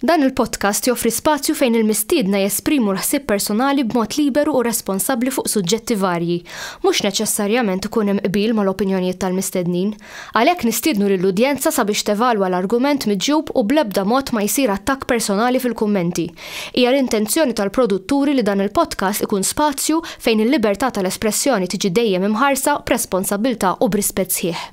Dan il-podcast joffri spazju fejn il-mistiedna jesprimu l-ħsieb personali b'mod liberu u responsabbli fuq suġġetti varji. Mhux neċessarjament ikun hemm qbil mal-opinjonijiet tal-mistednin. Għalhekk nistiednu lill-udjenza sabiex tevalwa l-argument miġjub u bl-ebda mod ma jsir attakk personali fil-kummenti. Hija l-intenzjoni tal-produtturi li dan il-podcast ikun spazju fejn il-libertà tal-espressjoni tiġi dejjem imħarsa b'responsabbiltà u b'rispett sħiħ.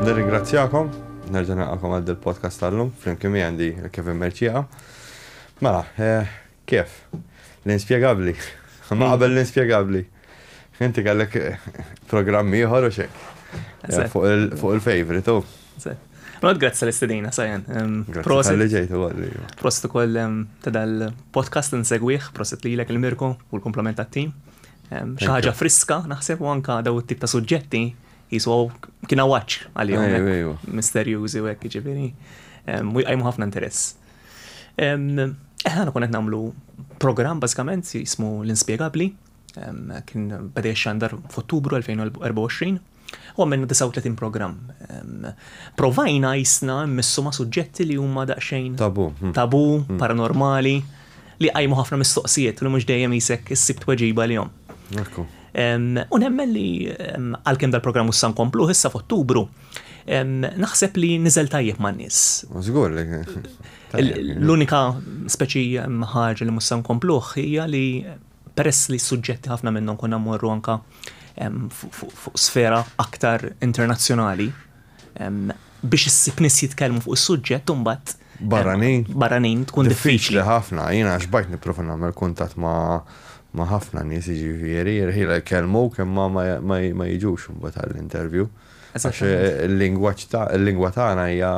Nirringrazzjakom, nerġa' naqakom għal il podcast tal-lum, flimkien mi għandi Kevin Merċija. Mela, eh, kif? L-inspjegabli. Ma qabel l-inspjegabli. Inti kellek eh, programm ieħor u xek. Eh, fuq il-favorite, u. Rod, grazzi tal-istedina, sajan. Prosit. Għalli ġejtu għalli. Prosit u koll ta' dal-podcast n-segwiħ, prosit li l-ek il-mirku u l-komplement tat-tim. Xi ħaġa friska naħseb u anka daw it-tip ta' suġġetti jisu kien għawaċ għalihom. Misterjużi u hekk ġifieri. U jqajmu ħafna interess. Eħna eh, kun qed nagħmlu programm bażikament jismu l-inspjegabbli. Kien bada xandar f'Ottubru 2024 U għamilna 39 programm. Provajna jisna missu ma' suġġetti li huma daqsxejn. Tabu. Hmm. Tabu, hmm. paranormali, li għajmu ħafna mistoqsijiet li mhux dejjem jisek issib tweġiba li jom. U nemmen li għalkemm dal-programm issa nkomplu issa f'Ottubru, naħseb li niżel tajjeb ma' nies. Żgur li. L-unika speċi ħaġa li mussa nkompluh hija li peress li suġġetti ħafna minnhom konna mmorru anka fuq sfera aktar internazzjonali biex issib nis jitkellmu fuq is-suġġett imbagħad barranin barranin tkun diffiċli ħafna jiena xbajt nipprova nagħmel kuntatt ma' ma' ħafna nies jiġifieri jirħila jkellmu kemm ma jiġux imbagħad għall-interview. Għax il-lingwaġġ ta' il-lingwa tagħna hija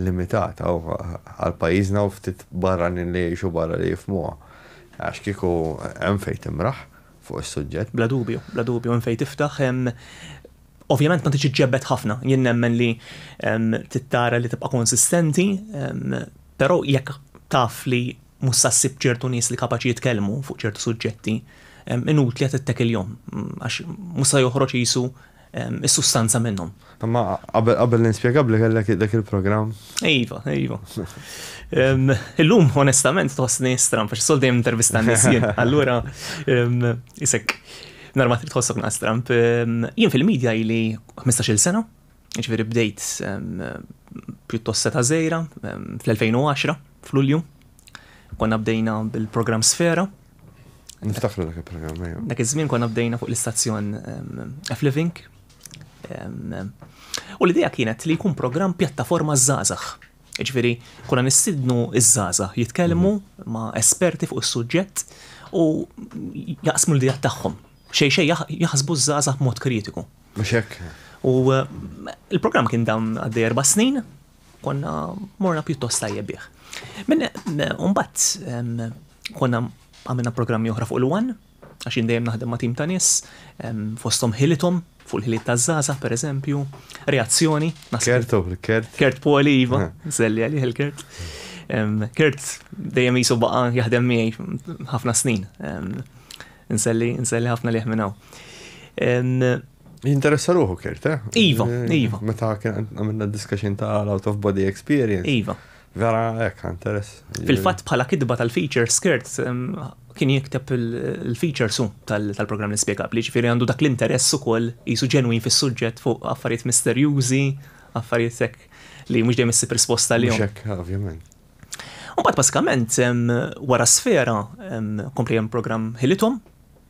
limitata għal pajjiżna u ftit barranin li jgħixu barra li jifmuha. Għax kieku hemm fejn timraħ fuq is-suġġett. Bla dubju, bla dubju, hemm fejn tiftaħ. Ovvjament ma tridx iġġebbed ħafna. Jien nemmen li trid tara li tibqa' konsistenti, però jekk taf li mhux se ssib ċertu nies li kapaċi jitkellmu fuq ċertu suġġetti, inutli qed ittekiljhom għax mhux se joħroġ qisu is-sustanza minnhom. Imma qabel l-inspjegabbli kellek dak il-programm. Iva, iva. Illum onestament tħossni stram għax sol dejjem intervista nies jien. Allura isek norma trid tħossok naqas stram. Jien fil-medja ili 15-il sena, ġifieri bdejt pjuttost seta' żejra fl-2010 f'Lulju. Konna bdejna bil-programm Sfera. Niftakru dak il-programm, ejja. Dak iż-żmien konna bdejna fuq l-istazzjon F-Living. U l-idea kienet li jkun programm pjattaforma żgħażagħ. Ġifieri, konna nistidnu iż-żgħażagħ jitkellmu mhm. ma' esperti fuq is-suġġett u jaqsmu l-idea tagħhom. Xej xej jaħsbu żgħażagħ mod kritiku. Mhux hekk. U eh, il-programm kien dam għaddej erba' snin, Konna morna pjuttost tajjeb bih. Minn mbagħad konna għamilna programmi oħra fuq il-wan, għax jien dejjem naħdem ma' tim ta' nies, fosthom ħilithom, fuq il-ħiliet ta' Zaza, per eżempju, reazzjoni. Kert, kert. Kert Poli, iva, zelli għalih il-kert. Kert dejjem jisu baqa jaħdem miegħi ħafna snin. Nselli, nselli ħafna liħ minnaw. Jinteressa ruħu kirt, eh? Iva, eh, iva. Meta kien għamilna discussion ta' l-out of body experience. Iva. Vera, ek, interess. Fil-fat bħala kidba tal-feature, skirt kien jikteb il-feature su tal-program li spiegab li ġifiri għandu dak l-interess u koll jisu ġenwin fis suġġett fuq affarijiet misterjużi, affarijiet sekk li mux dejjem issib risposta li. Xek, ovvjament. U bat basikament, wara sfera, komplijem program ħilitom,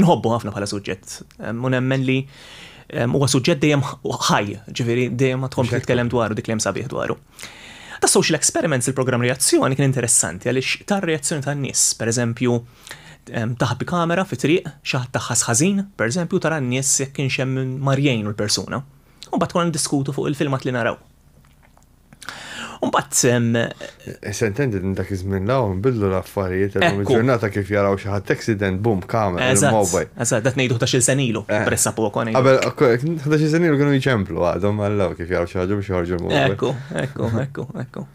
Inħobbu ħafna bħala suġġett u nemmen li huwa suġġett dejjem ħaj, ġifieri dejjem ma tkompli titkellem dwaru dik li hemm sabiħ dwaru. Ta' social experiments il-programm reazzjoni kien interessanti għaliex tar reazzjoni tan-nies, pereżempju taħbi kamera fi triq, xi ħadd taħħas ħażin, pereżempju tara n-nies jekk kienx hemm mar jgħinu l-persuna. U mbagħad konna niddiskutu fuq il-filmat li naraw. Mbagħad sem. Eh, Sentendi din dak iż-żmien law nbidlu l-affarijiet illum ġurnata kif jaraw xi ħadd accident boom kamera il-mobile. Eżatt, dat ngħidu ħdax-il senilu, eh. pressa poco ngħidu. Qabel ħdax-il senilu kienu jċemplu għadhom għallaw kif jaraw xi ħaġa biex joħorġu l-mobile. Ekku, ekku, ekku, ekku.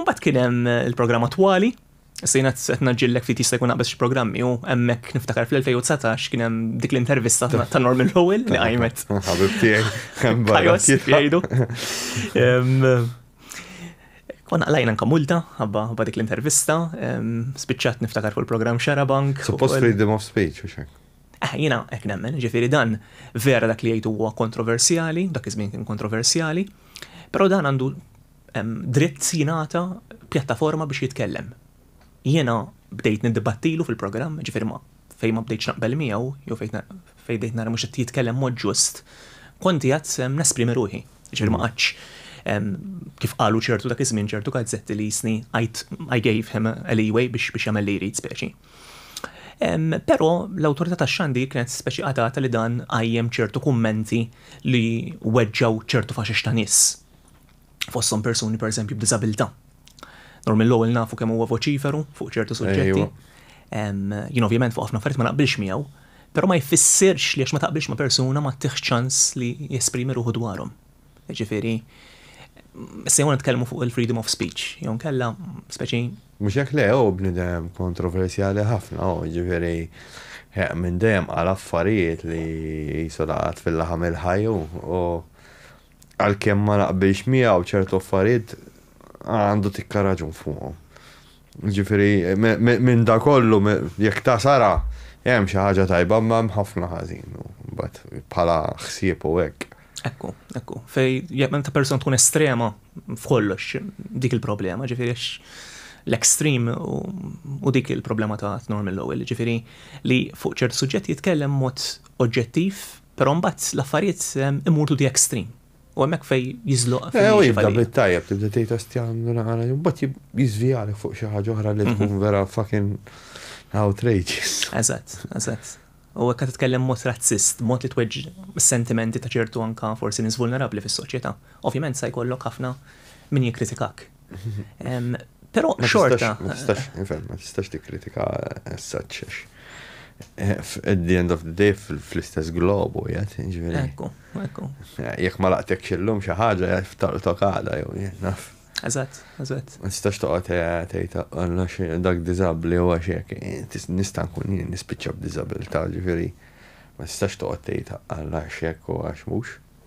Mbagħad kien hemm il-programm attwali. Issa jiena qed naġġillek ftit jista' jkun naqbeż xi programmi u hemmhekk niftakar fl-2019 kien hemm dik l-intervista ta' Norman Lowell li qajmet. Ħabib tiegħi. Jgħidu. Kon għalajna nka multa, għabba għabba dik l-intervista, spiċċat niftakar fuq il-program Xarabank. Suppost freedom of speech, u xek. Eh, jina, ek nemmen, ġifiri dan, vera dak li jgħidu huwa kontroversjali, dak iż-żmien kien kontroversjali, pero dan għandu dritt jingħata pjattaforma biex jitkellem. Jiena bdejt niddibattilu fil-programm, ġifieri ma fejn ma bdejtx naqbel miegħu jew fejn fejn bdejt nara mhux qed jitkellem mod ġust, kont qiegħed nesprimi ruħi. Ġifieri ma qgħadtx kif qalu ċertu dak iż-żmien ċertu gazzetti li jistni I gave him a leeway biex biex jagħmel li jrid speċi. Però l-Awtorità tax-Xandir kienet speċi qatgħatha li dan qajjem ċertu kummenti li weġġgħu ċertu faxex ta' nies. fosthom persuni pereżempju b'diżabilità. Nor mill-ewwel nafu kemm huwa voċiferu fuq ċertu suġġetti. Jien ovvjament fuq ħafna affarijiet ma naqbilx miegħu, però ma jfissirx li għax ma taqbilx ma' persuna ma tih ċans li jesprimi ruħu dwarhom. Jiġifieri se jew nitkellmu fuq il-freedom of speech, jew nkella speċi. Mhux hekk le hu bniedem kontroversjali ħafna hu, jiġifieri minn dejjem qal affarijiet li qisu laqat fil-laħam il-ħaj hu. għalkemm ma naqbilx miegħu ċertu affarijiet għandu tikka raġun fuqhom. Ġifieri minn da kollu jekk ta' sara hemm xi ħaġa tajba ma hemm ħafna ħażin bħala ħsieb u hekk. Ekku, ekku. Fej jekk meta persuna tkun estrema f'kollox dik il-problema, ġifieri l-extreme u dik il-problema ta' Norman Lowell, ġifiri li fuq ċert suġġett jitkellem mod oġġettiv Però mbagħad l-affarijiet imur to the extreme. U hemmhekk fejn jiżloq. Eh, u jibda bit-tajjeb tibda tgħid astjan għana, mbagħad jiżvijalik fuq xi ħaġa oħra li mhm. tkun vera fucking outrageous. Eżatt, eżatt. U hekk titkellem mod razzist, mod li tweġġ sentimenti ta' ċertu anka forsi nies vulnerabbli fis-soċjetà. Ovvjament sa jkollok ħafna min jikkritikak. Pero xorta. Ma tistax, nifhem, ma tistax tikkritika as such. Eh, at the end of the day fl-istess globu, jgħat, ġveri. Ekku, ekku. Eh, jek ma laqtek xillum xaħġa, jgħat f'tartok għada, jew jgħat, naf. Eżat, eżat. Ma tistax toqgħod tgħid għandna xi dak diżabbli u għax hekk eh, nista' nkun jien nispiċċa b'diżabilità, ġifieri ma tistax toqgħod tgħid għandna x'hekk u għax mhux.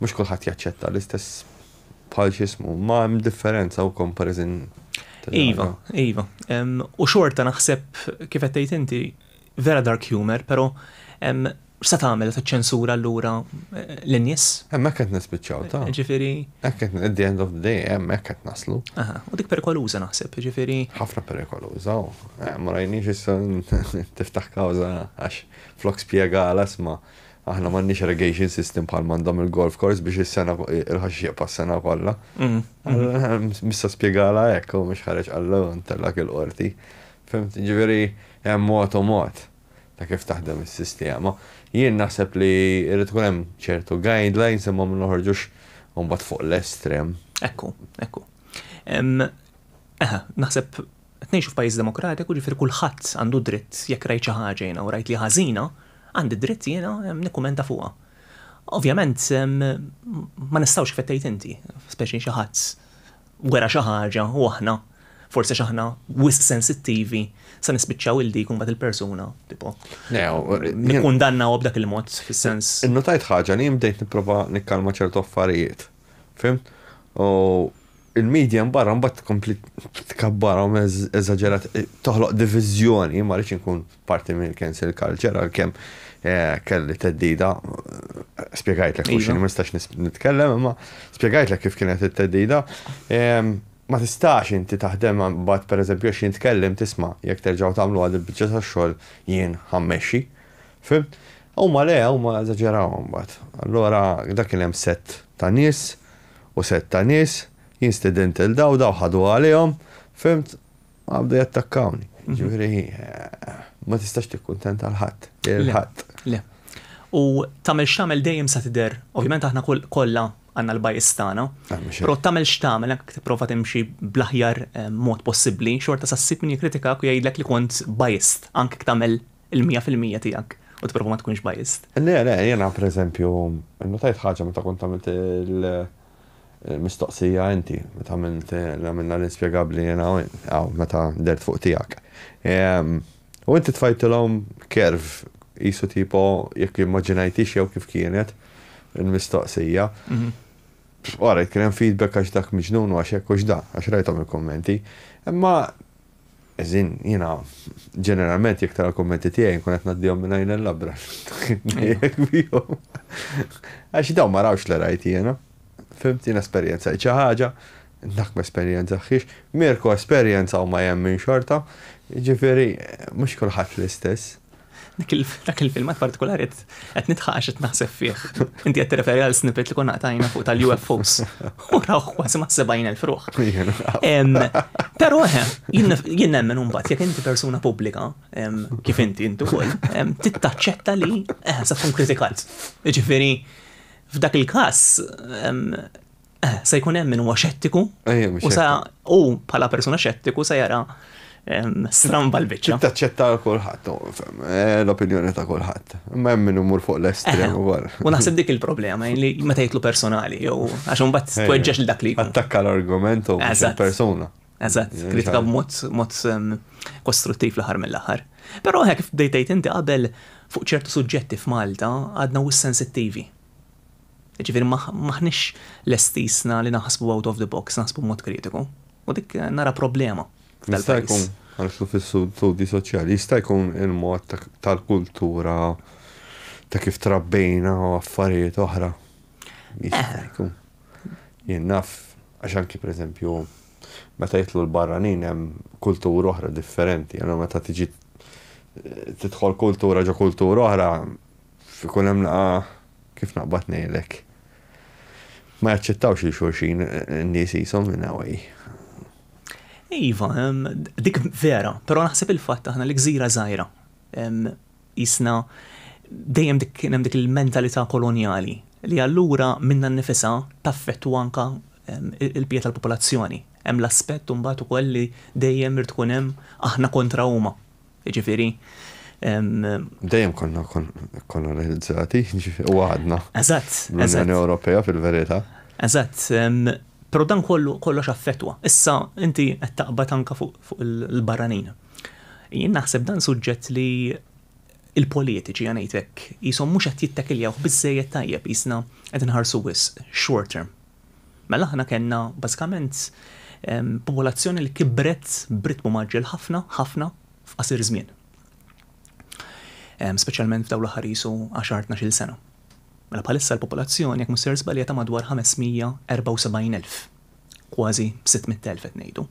Mhux kulħadd jaċċetta l-istess bħal x'ismu, ma hemm differenza u comparison. Iva, iva. U xorta naħseb kif qed tgħid inti vera dark humor, però x'sa tagħmel ta' ċensura allura eh, l-nies? Hemmhekk qed nispiċċaw ta'. Eh, ġifieri. Hekk qed at the end of the day hemmhekk qed naslu. Aha, u dik perikoluża naħseb, ġifieri. Ħafna perikoluża, eh, ma rajniex issa tiftaħ kawża għax flok spjega għal asma' Aħna m'għandniex irrigation system bħal m'għandhom il-golf course biex is-sena il-ħaxix jaqpa' s-sena kollha. Mm, mm. Mista spjegala hekk u mhux ħareġ qallu ntellak il-qorti. Fimt, ġifieri hemm mod u mod ta' kif taħdem is-sistema. Jien naħseb li jrid ikun hemm ċertu guidelines imma ma noħorġux mbagħad fuq l-estrem. Ekku, ekku. Eħe, naħseb Qed ngħixu f'pajjiż demokratiku, jiġifieri kulħadd għandu dritt jekk rajt xi ħaġa jiena u rajt li hi ħażina, għandi dritt jiena nikkumenta fuqha. Ovvjament ma nistgħux kif qed tgħid inti, speċi xi ħadd wera xi ħaġa u aħna, forsi għax aħna wisq sensittivi, se nispiċċaw il dik u mbagħad il-persuna tipo. Nikkundannawha b'dak il-mod fis-sens. Innotajt ħaġa li jien bdejt nipprova nikkalma ċertu affarijiet. Fhimt? U il-medja mbarra mbagħad tkompli tkabbarhom eżaġerat, toħloq diviżjoni, ma rridx inkun parti minn cancel culture għalkemm eh, kelli teddida, spjegajtlek mhux iva. ma nistax nitkellem, imma spjegajtlek kif kienet it-teddida. Ehm, ma tistax inti taħdem mbagħad pereżempju għax jintkellem tisma' jekk terġgħu tagħmlu għad il-biċċa tax-xogħol jien ħammexxi. Fhimt? Huma le, huma eżaġerawha mbagħad. Allura dak kien hemm sett ta' nies u sett ta' nies, jien stedint lil daw, daw ħaduha għalihom, fhimt, ma bdew jattakkawni. Jiġifieri ma tistax tikkuntenta lil ħadd, lil ħadd. Le. U tagħmel x'tagħmel dejjem se tidher, ovvjament aħna kollha għandna l-bias tagħna, però tagħmel x'tagħmel jekk tipprova timxi bl-aħjar mod possibbli, xorta se ssib min jikkritikak u jgħidlek li kont biased anke jekk tagħmel il-mija fil-mija tiegħek u tipprova ma tkunx biased. Le, le, jiena pereżempju nnutajt ħaġa meta kont għamilt il-mistoqsija inti, meta għamilt li għamilna l-inspjegabbli jiena u int, hawn meta dehrt fuq tiegħek. U inti tfajtilhom curve qisu tipo jekk immaġinajtix jew kif kienet il-mistoqsija. Orajt, kien hemm feedback għax dak miġnun u għax hekk u x'dak, għax rajthom il-kummenti. Imma Eżin, jiena ġeneralment jekk tara l-kummenti tiegħi nkun qed ngħaddihom minn għajn il-labra. Għax dawn ma rawx li rajt jiena. Fimt jiena esperjenza xi ħaġa, dak ma esperjenzaħiex, Mirko esperjenza u ma jemmin xorta, jiġifieri mhux kulħadd l-istess. Dak il-filmat partikolari qed nitħaq għax qed naħseb fih. Inti qed tirreferi għal snippet li konna għatajna fuq tal-UFOs. U rawh kważi ma' 70,000 ruħ. Però eh, jien nemmen imbagħad jekk inti persuna pubblika, kif inti intu wkoll, tittaċċetta li eh, sa tkun kritikat. Jiġifieri f'dak il-każ Eh, se jkun hemm min huwa xettiku. U sa u bħala persuna xettiku se jara stramba l-biċċa. Taċċetta kulħadd, eh, l-opinjoni ta' kulħadd. Ma hemm min imur fuq l-estrem eh, ukoll. U naħseb dik il-problema li meta jitlu personali jew għax imbagħad tweġġeġ li dak li. Attakka l-argument u persuna. Eżatt, kritika b'mod mod kostruttiv l-aħħar mill-aħħar. Però hekk f'dejtejt inti qabel fuq ċertu suġġetti f'Malta għadna u sensittivi. Jiġifieri m'aħniex lesti issa li naħsbu out of the box, naħsbu b'mod kritiku. U dik nara problema f'dal-pajjiż. Jista' jkun, għaliex hu fl-istudji soċjali, jista' jkun il-mod tal-kultura, ta' kif trabbejna u affarijiet oħra. Jista' jkun. Jien naf, għax anki per eżempju, meta jidħlu l-barranin hemm kultura oħra differenti, allura meta tiġi tidħol kultura ġo kultura oħra, F'ikun hemm laqgħa kif naqbad ngħidlek. Ma jaċċettawx lil xulxin in-nies qishom in a way. Iva, dik vera, però naħseb il-fatt aħna li gżira żgħira qisna dejjem dik kien hemm dik il-mentalità kolonjali li allura minnha nnifisha taffettwa anke l-bqija tal-popolazzjoni. Hemm l-aspett imbagħad ukoll li dejjem irid ikun hemm aħna kontra huma. Jiġifieri, Dejjem konna kolonizzati, u għadna. Eżatt. L-Unjoni Ewropea fil-verità. Eżatt. Però dan kollu kollox affettwa. Issa inti qed taqbad anke fuq il-barranin. Jien naħseb dan suġġett li l-politiċi, ħa ngħid hekk, qishom mhux qed jittakiljawh biżżejjed tajjeb, qisna qed inħarsu wisq short term. Mela aħna kellna bażikament popolazzjoni li kibret b'ritmu mgħaġġel ħafna, ħafna f'qasir żmien. Speċjalment f'dawn l-aħħar qisu għaxar tnax-il sena. Mela bħalissa l-popolazzjoni jekk mhux ser żbalja ta' madwar 574,000, kważi 600,000 qed ngħidu.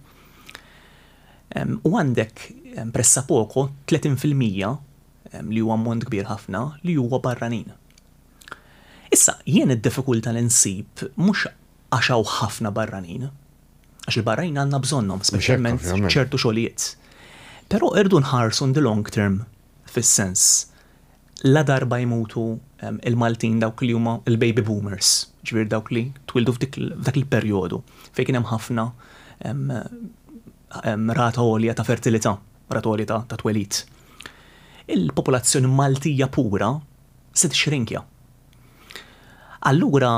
U għandek pressapoko 30 fil-mija li huwa ammont kbir ħafna li huwa barranin. Issa, jien id-diffikulta li nsib mhux għax hawn ħafna barranin, għax il-barranin għandna bżonnhom, speċjalment f'ċertu xogħlijiet. Però irridu nħarsu in the long term fis-sens ladarba jmutu l-Maltin dawk li huma l-baby boomers, jiġifieri dawk li twieldu f'dak il-perjodu fejn kien hemm ħafna rata għolja ta' fertilità, rata għolja ta' twelid. Il-popolazzjoni Maltija pura Se tixxrinkja. Allura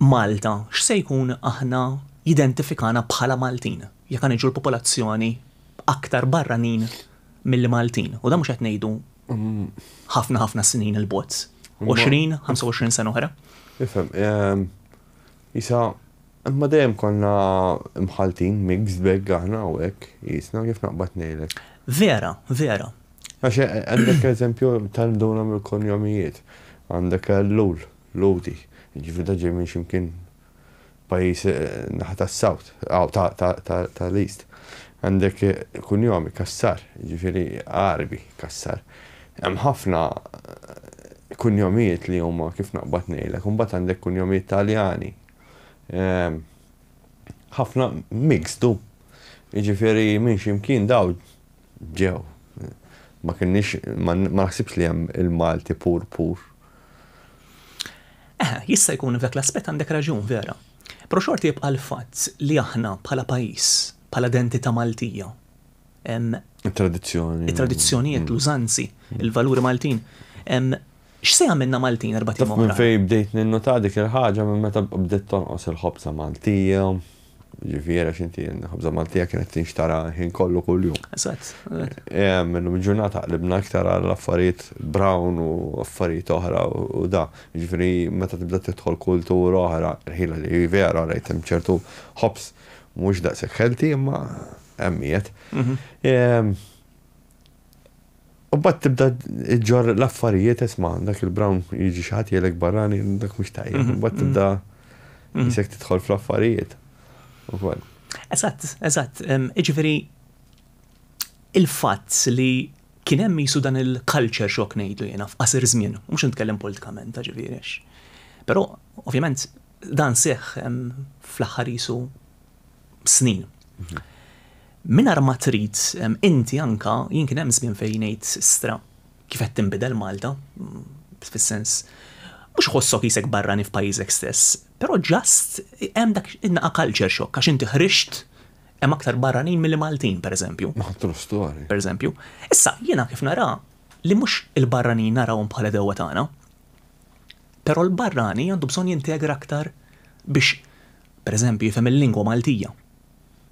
Malta x'se jkun aħna jidentifikana bħala Maltin jekk ħa niġu l-popolazzjoni aktar barranin milli Maltin u dan mhux qed ngħidu ħafna ħafna snin 'il bogħod, 20, 25 sena oħra? Ifhem, isa Imma dejjem konna mħalltin, mixed bag aħna hawnhekk qisna, kif naqbad ngħidlek. Vera, vera. Għax għandek eżempju tal-mduna mill-konjomijiet. Għandek Ellul, Lhudi, jiġifieri dan ġej minn xi mkien pajjiż naħa tas-South, tal-East. Għandek kunjomi, Cassar, jiġifieri Għarbi, Cassar. Hemm ħafna kunjomijiet li huma kif naqbad ngħidlek. U mbagħad għandek kunjomijiet Taljani, ħafna mixtu. Jiġifieri minn xi mkien dawl ġew. Ma kienniex, ma naħsibx li hemm il-Malti pur pur. Eħe, jista' jkun f'dak l-aspett għandek raġun vera. Però xorta jibqa' l-fatt li aħna bħala pajjiż, bħala identità Maltija, hemm. It-tradizzjoni. It-tradizzjonijiet, l-użanzi, il-valuri Maltin, X'se jagħmilna Maltin erbat ijiem oħra? Taf minn fejn bdejt ninnota dik il-ħaġa minn meta bdiet tonqos il-ħobża Maltija, jiġifieri għax inti l-ħobża Maltija kienet tinxtara l-ħin kollu kuljum. Eżatt. Illum il-ġurnata qlibna iktar għal affarijiet brown u affarijiet oħra u da. Jiġifieri meta tibda tidħol kultura oħra, ħila li hi vera rajt hemm ċertu ħobż mhux daqshekk healthy imma hemm qiegħed. U mbagħad tibda ġġorr l-affarijiet isma' dak il-brown jiġi xi ħadd jgħidlek barrani dak mhux tajjeb. Mhm, mbagħad mhm. tibda mhm. isek tidħol fl-affarijiet. Ukoll. Eżatt, eżatt. Jiġifieri il-fatt li kien hemm jisu dan il-culture shock ngħidu jiena f'qasir żmien, mhux nitkellem politikament ta' ġifieri. Però ovvjament dan seħħ fl-aħħar jisu snin. Minar ma trid inti anka jien kien hemm żmien fejn ngħid stra kif qed tinbidel Malta mm, fis-sens mhux ħossok jisek barrani f'pajjiżek stess, però ġast hemm dak innaqa culture shock għax inti ħrixt hemm aktar barranin milli Maltin pereżempju. Pereżempju. Issa jiena kif nara li mhux il-barranin narawhom bħala dewwa tagħna, però l-barrani għandu bżonn jintegra aktar biex pereżempju, jifhem il-lingwa Maltija,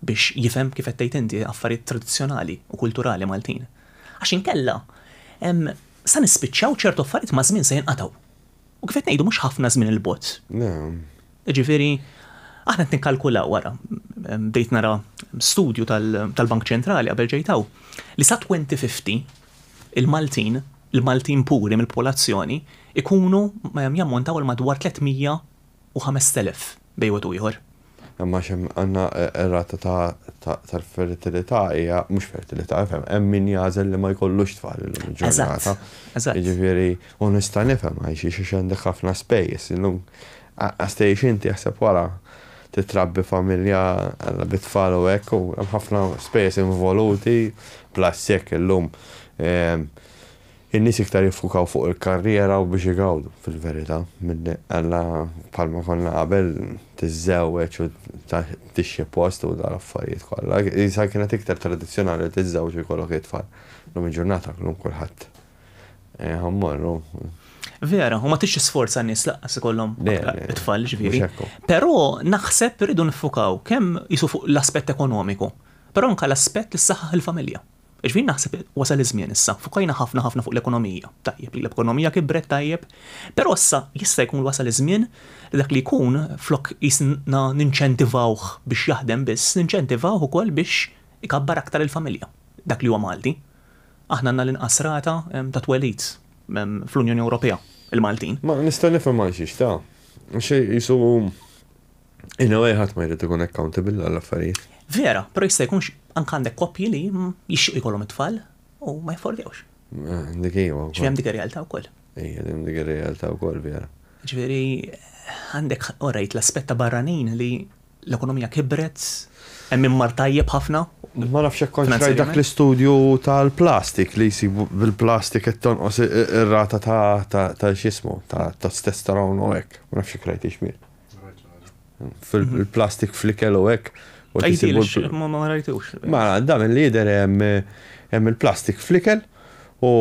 biex jifhem, kif qed tgħid inti, affarijiet tradizzjonali u kulturali Maltin. Għax inkella, sa nispiċċaw ċertu affarijiet maż-żmien se jinqatgħu. U kif qed ngħidu mhux ħafna żmien 'il bogħod. Jiġifieri, aħna qed nikkalkulaw, ara, bdejt nara studju tal-Bank Ċentrali qabel ġejt hawn, li sa 2050 il-Maltin, il-Maltin puri mill-popolazzjoni, ikunu jammontaw għal madwar 300 u 5,000 bejn wieħed u ieħor. Imma għax hemm għandna r-rata tal-fertilità hija mhux fertilità, ifhem, hemm min jagħżel li ma jkollux tfal illum il-ġurnata. Eżatt. Jiġifieri, u nista' nifhem għax għax għandek ħafna spejjeż illum. Għax tgħix inti jaħseb wara titrabbi familja bi tfal u hekk u hemm ħafna spejjeż involuti bla s-sekk illum. In-nies iktar jiffukaw fuq il-karriera u biex igawdu, fil-verità, milli Alla, bħalma konna qabel, tiżżewweġ u tixxi post u dal-affarijiet kollha. Qisha kienet iktar tradizzjonali li tiżżewweġ u jkollok it-tfal. Llum il-ġurnata llum kulħadd ħa mmorru. Vera, u ma tridx tisforza n-nies lanqas ikollhom it-tfal, jiġifieri. Però naħseb irridu niffukaw kemm qisu fuq l-aspett ekonomiku, però anke l-aspett li ssaħħaħ il-familja. Jiġifieri naħseb wasal iż-żmien issa, fukajna ħafna ħafna fuq l-ekonomija, tajjeb li l-ekonomija kibret tajjeb, però issa jista' jkun wasal iż-żmien li dak li jkun flok qisna ninċentivawh biex jaħdem biss, ninċentivawh ukoll biex ikabbar aktar il-familja, dak li huwa Malti. Aħna għandna l-inqas rata ta' twelid fl-Unjoni Ewropea, il-Maltin. Ma nista' nifhem għal xiex, ta. Xi qisu hu In a way ħadd ma jrid ikun accountable għal affarijiet. Vera, però jista' jkunx anke għandek koppji li jixtiequ jkollhom it-tfal u ma jaffordewx. Dik hija wkoll. Ġifieri hemm dik ir-realtà wkoll. Ejja, hemm dik ir-realtà wkoll vera. Ġifieri għandek orajt l-aspett ta' barranin li l-ekonomija kibret, hemm min mar tajjeb ħafna. Ma nafx hekk kontx rajt dak l-istudju tal-plastik li jsib bil-plastik qed tonqos ir-rata ta' x'jismu, ta' testosterone u hekk. Ma nafx hekk rajtix miegħi. fil-plastik flikel u hekk. Ma rajtux. Ma da minn li jidher hemm il-plastik flikel u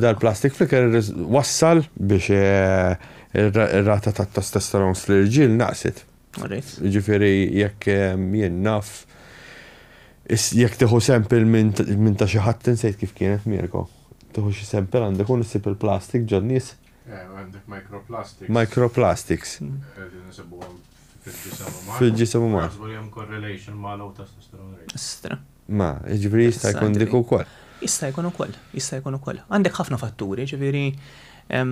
dal-plastik flikel wassal biex eh, ir-rata ta' testosteron fl-irġiel naqset. Ġifieri jekk eh, jien naf jekk tieħu sempil minn ta' xi ħadd insejt kif kienet Mirko. Tieħu xi sempil għandek u issib il-plastik ġon nies Microplastics. Fil-ġisem uman. Ma, jiġifieri jista' jkun dik ukoll. Jista' jkun ukoll, jista' jkun ukoll. Għandek ħafna fatturi, jiġifieri,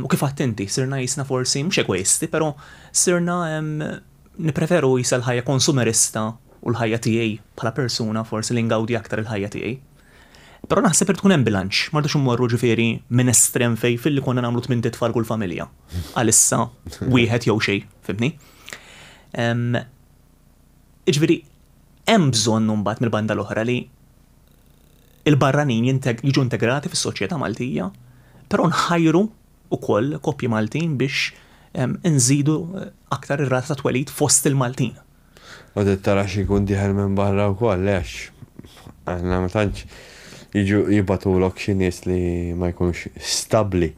u kif għedt inti, sirna qisna forsi mhux egoisti, però sirna nippreferu qisha l-ħajja konsumerista u l-ħajja tiegħi bħala persuna forsi li ngawdi aktar il-ħajja tiegħi. Però naħseb irid ikun hemm bilanċ, ma rridux immorru ġifieri minn estrem fejn filli konna nagħmlu tmien titfal kull familja. Għalissa wieħed jew xejn, fimtni? Jiġifieri hemm bżonn imbagħad mill-banda l-oħra li il-barranin jiġu integrati fis-soċjetà Maltija, però nħajru wkoll koppji Maltin biex inżidu aktar ir-rata ta' twelid fost il-Maltin. U trid tara xi jkun dieħel minn barra wkoll għax aħna ma tantx jiġu jibgħatulok xi nies li ma jkunux stabbli.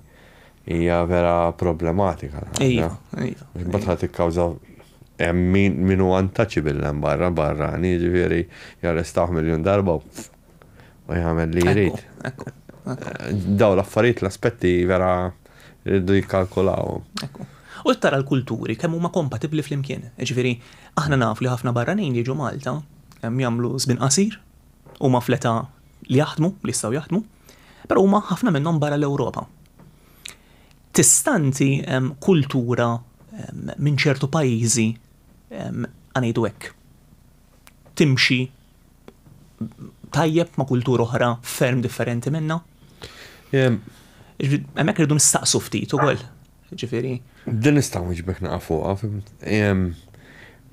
Hija vera problematika l-ħaġa. Imbagħad ħa tikkawża hemm min hu untouchable hemm barra, barrani, jiġifieri jarrestawh miljun darba u u jagħmel li jrid. Daw l-affarijiet l-aspetti vera rridu jikkalkulaw. U tara l-kulturi kemm huma kompatibbli flimkien. Ġifieri, aħna nafu li ħafna barranin jiġu Malta, jagħmlu żmien qasir, huma fl-età li jaħdmu, li jistgħu jaħdmu, però huma ħafna minnhom barra l-Ewropa. Tistanti kultura minn ċertu pajjiżi ngħidu hekk timxi tajjeb ma' kultura oħra ferm differenti minna. Hemmhekk irridu nistaqsu ftit ukoll. Ġifieri. Din nistgħu niġbek naqa' fuqha.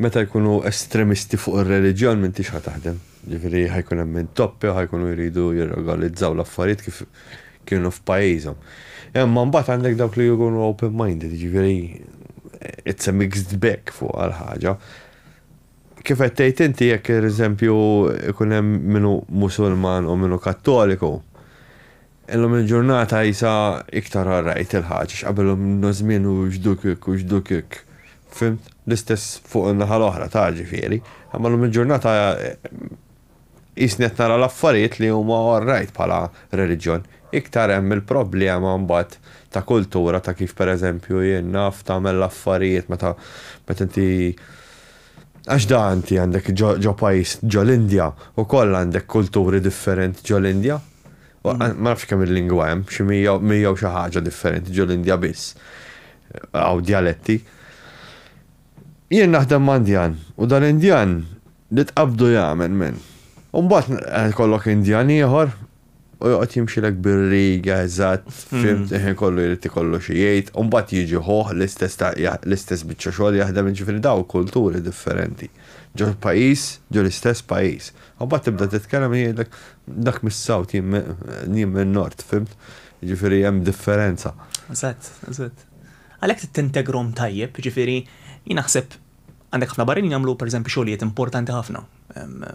Meta jkunu estremisti fuq ir-reliġjon minn tix taħdem. Ġifieri ħajkun hemm minn toppi u ħajkunu jridu jirregolizzaw l-affarijiet kif kienu f'pajjiżhom. Imma mbagħad għandek dawk li jkunu open-minded, ġifieri it's a mixed bag fuq għal ħaġa. Kif qed tgħid inti jekk per eżempju ikun hemm min hu Musulman u min hu Kattoliku, illum il-ġurnata qisha iktar all right il-Ħaġ għax qabel ilna żmien u x'duk hekk u x'duk hekk. Fhimt? L-istess fuq in-naħa l-oħra ta' ġifieri. Imma llum il-ġurnata Qisni qed nara l-affarijiet li huma all right bħala reliġjon. Iktar hemm il-problema mbagħad ta' kultura ta' kif pereżempju jien naf tagħmel l-affarijiet meta meta inti għax da inti għandek ġo ġo pajjiż ġo l-Indja wkoll għandek kulturi differenti ġo l-Indja. Ma nafx kemm il-lingwa hemm, xi mija u mija u xi ħaġa differenti ġo l-Indja biss. Hawn djaletti. Jien naħdem ma' Indjan u dal-Indjan Li tqabbdu jagħmel minn. U mbagħad ikollok Indjan ieħor u joqgħod jimxilek bir-riga eżatt, fimt, il-ħin kollu jrid ikollu xi jgħid, u mbagħad jiġi ħuh l-istess biċċa xogħol jaħdem, jiġifieri dawn kulturi differenti ġo pajjiż, ġo l-istess pajjiż. U mbagħad tibda titkellem u jgħidlek dak mis-South jien min-Nord, fimt? Jiġifieri hemm differenza. Eżatt, eżatt. Għalhekk trid tintegrhom tajjeb, jiġifieri jien naħseb Għandek ħafna barranin jagħmlu pereżempju xogħlijiet importanti ħafna.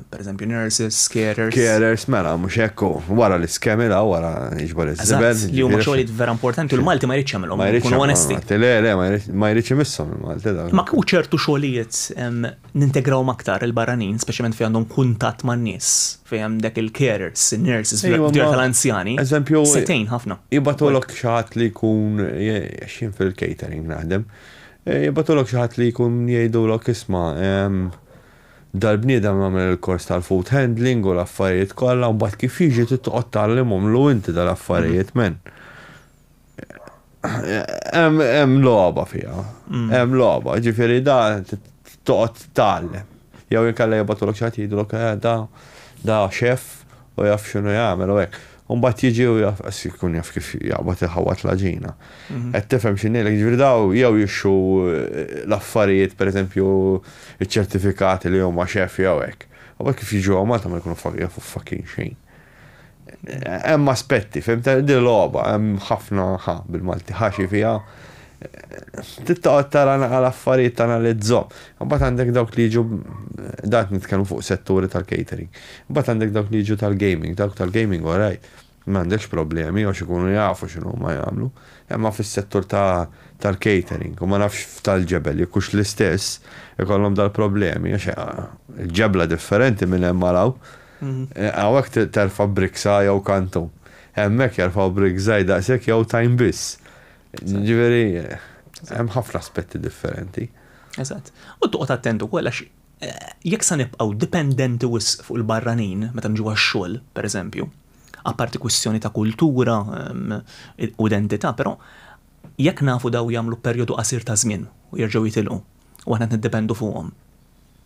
Pereżempju nurses, carers. Carers, mela, mhux hekk wara l-iskemi la wara jiġbor iż-żibel. Li huma xogħlijiet vera importanti u l-Malti ma jridx jagħmilhom, nkunu onesti. Le, le, ma jridx imisshom il-Malti. Ma kieku ċertu xogħlijiet nintegrawhom aktar il-barranin, speċjalment fejn għandhom kuntatt man-nies, fejn hemm dak il-carers, in-nurses, fid-djar tal-anzjani. Eżempju. Se tgħin ħafna. Jibgħatulok xi ħadd li jkun jien fil-catering naħdem. Jibgħatulok xi ħadd li jkun jgħidulok isma' dal-bniedem għamel il-kors tal-food handling u l-affarijiet kollha u mbagħad kif jiġi trid toqgħod tgħallimhomlu inti dal-affarijiet men. Hemm logħba fiha. Hemm logħba, ġifieri da toqgħod tgħallem. Jew inkella jibgħatulok xi ħadd jgħidulok da da chef u jaf x'inhu jagħmel u hekk. U mbagħad jiġi u jaf, qas jkun jaf kif jaqbad iħawwad l-għaġina. Qed tifhem xi ngħidlek, jiġifieri dawn jew jixxu l-affarijiet, pereżempju ċ-ċertifikati li huma xeff jew hekk. U mbagħad kif jiġu hawn Malta ma jkunu jafu fucking xejn. Hemm aspetti, fhimt, din logħba, hemm ħafna ħa bil-Malti, ħaxi fiha. Trid toqgħod tara naqra l-affarijiet tanalizzhom. Imbagħad għandek dawk li jiġu dan qed nitkellmu fuq setturi tal-catering. Imbagħad għandek dawk li jiġu tal-gaming. Dawk tal-gaming all right, m'għandekx problemi għax ikunu jafu x'inhuma jagħmlu. Imma fis-settur tal-catering u ma nafx f'Tal-Ġebel jekk hux l-istess ikollhom dal-problemi għax il-ġebla differenti minn hemm għal hawn. Hawnhekk terfa' bricksa jew kantun. Hemmhekk jerfgħu brick żgħir daqshekk jew tajn biss. Jiġifieri hemm ħafna aspetti differenti. Eżatt. U toqgħod attent ukoll għax jekk sa nibqgħu dipendenti wisq fuq il-barranin meta niġu għax-xogħol, pereżempju, apparti kwistjoni ta' kultura u identità, però jekk nafu dawn jagħmlu perjodu qasir ta' żmien u jerġgħu jitilqu u aħna qed niddependu fuqhom,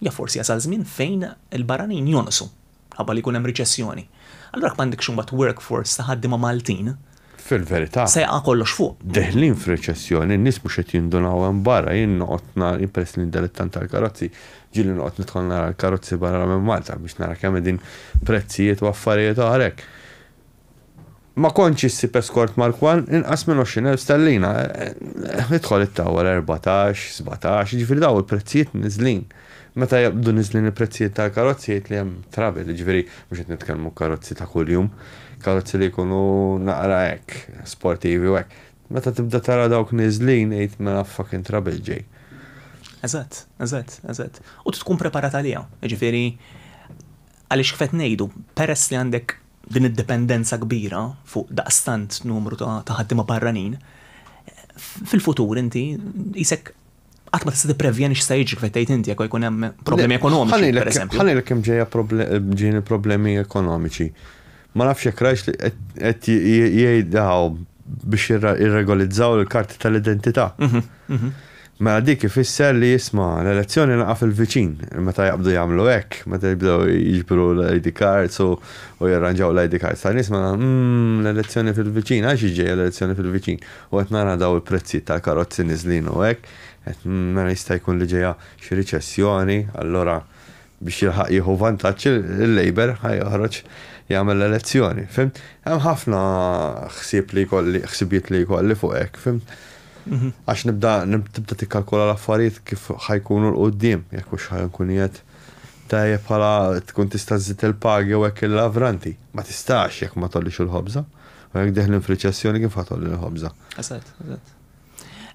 jaf forsi jasal żmien fejn il-barranin jonqsu. minħabba li jkun hemm riċessjoni, allura jekk m'għandekx imbagħad workforce ta' ħaddiema Maltin, Fil-verità. Se jaqa' kollox fuq. Deħlin f'riċessjoni, n-nies mhux qed jindunaw hemm barra, jien noqgħod nara, jien peress li dilettant tal-karozzi, ġieli noqgħod nidħol nara l-karozzi barra minn Malta biex nara kemm qegħdin prezzijiet u affarijiet oħra hekk. Ma kontx issib eskort Markwan inqas minn 20,000 sterlina. Idħol it-tower 14, 17, jiġifieri dawn il-prezzijiet niżlin. Meta jibqdu niżlin il-prezzijiet tal-karozzi jgħid li hemm travel, jiġifieri mhux qed nitkellmu karozzi ta' kuljum, karozzi li jkunu naqra hekk, sportivi u hekk. Meta tibda tara dawk niżlin għid mela fucking travel ġej. Eżatt, eżatt, eżatt. U trid tkun preparat għaliha. Jiġifieri għaliex kif qed ngħidu, peress li għandek Din id-dipendenza kbira fuq daqstant numru ta' ħaddiema barranin, fil-futur inti qisek qatt ma tista' tipprevjeni x'se jiġri kif qed tgħid inti jekk jkun hemm problemi ekonomiċi, pereżempju. Ħa ngħidlek kemm ġejja ġieni problemi ekonomiċi. Ma nafx jekk rajtx li qed jgħidha biex jirregolizzaw il-karti tal-identità. Mela dik ifisser li isma' l-elezzjoni naqa' fil-viċin, meta jaqbdu jagħmlu hekk, meta jibdew jiġbru l-ID cards u u jirranġaw l-ID cards ta' nies mela umm l-elezzjoni fil-viċin, għax hi ġejja l-elezzjoni fil-viċin u qed nara daw il-prezzijiet tal-karozzi niżlin u hekk, qed mela jista' jkun li ġejja xi riċessjoni, allura Biex jilħaq jieħu vantaġġ il-Labour ħa joħroġ jagħmel l-elezzjoni, fimt? Hemm ħafna ħsieb li jkolli, ħsibiet li jkolli fuq hekk, fimt? Mhm. Għax nibda tibda tikkalkula l-affarijiet kif ħajkunu l-qudiem, jekk hux ħajkun jgħid tajjeb bħala tkun tista' żżid il-pagi u hekk il-lavranti. Ma tistax jekk ma tollix il-ħobża. U jekk deħlin f'riċessjoni kif ħatolli l-ħobża. Eżatt, eżatt.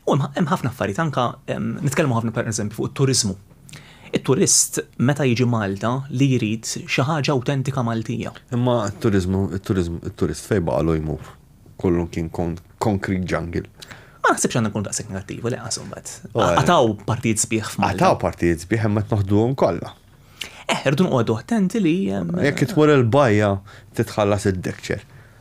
U hemm ħafna affarijiet anke nitkellmu ħafna pereżempju fuq it-turiżmu. It-turist meta jiġi Malta li jrid xi ħaġa awtentika Maltija. Imma t-turiżmu, it-turiżmu, it-turist fejn baqgħulu jmur? Kollu kien concrete jungle. Ma naħsibx għandna nkunu daqshekk negattivi li qasu mbagħad. Qatgħu partijiet sbieħ f'Malta. Qatgħu partijiet sbieħ imma qed noħduhom kollha. Eh, irdu noqogħdu attenti li. Jekk tmur il-bajja titħallas id-dekċer.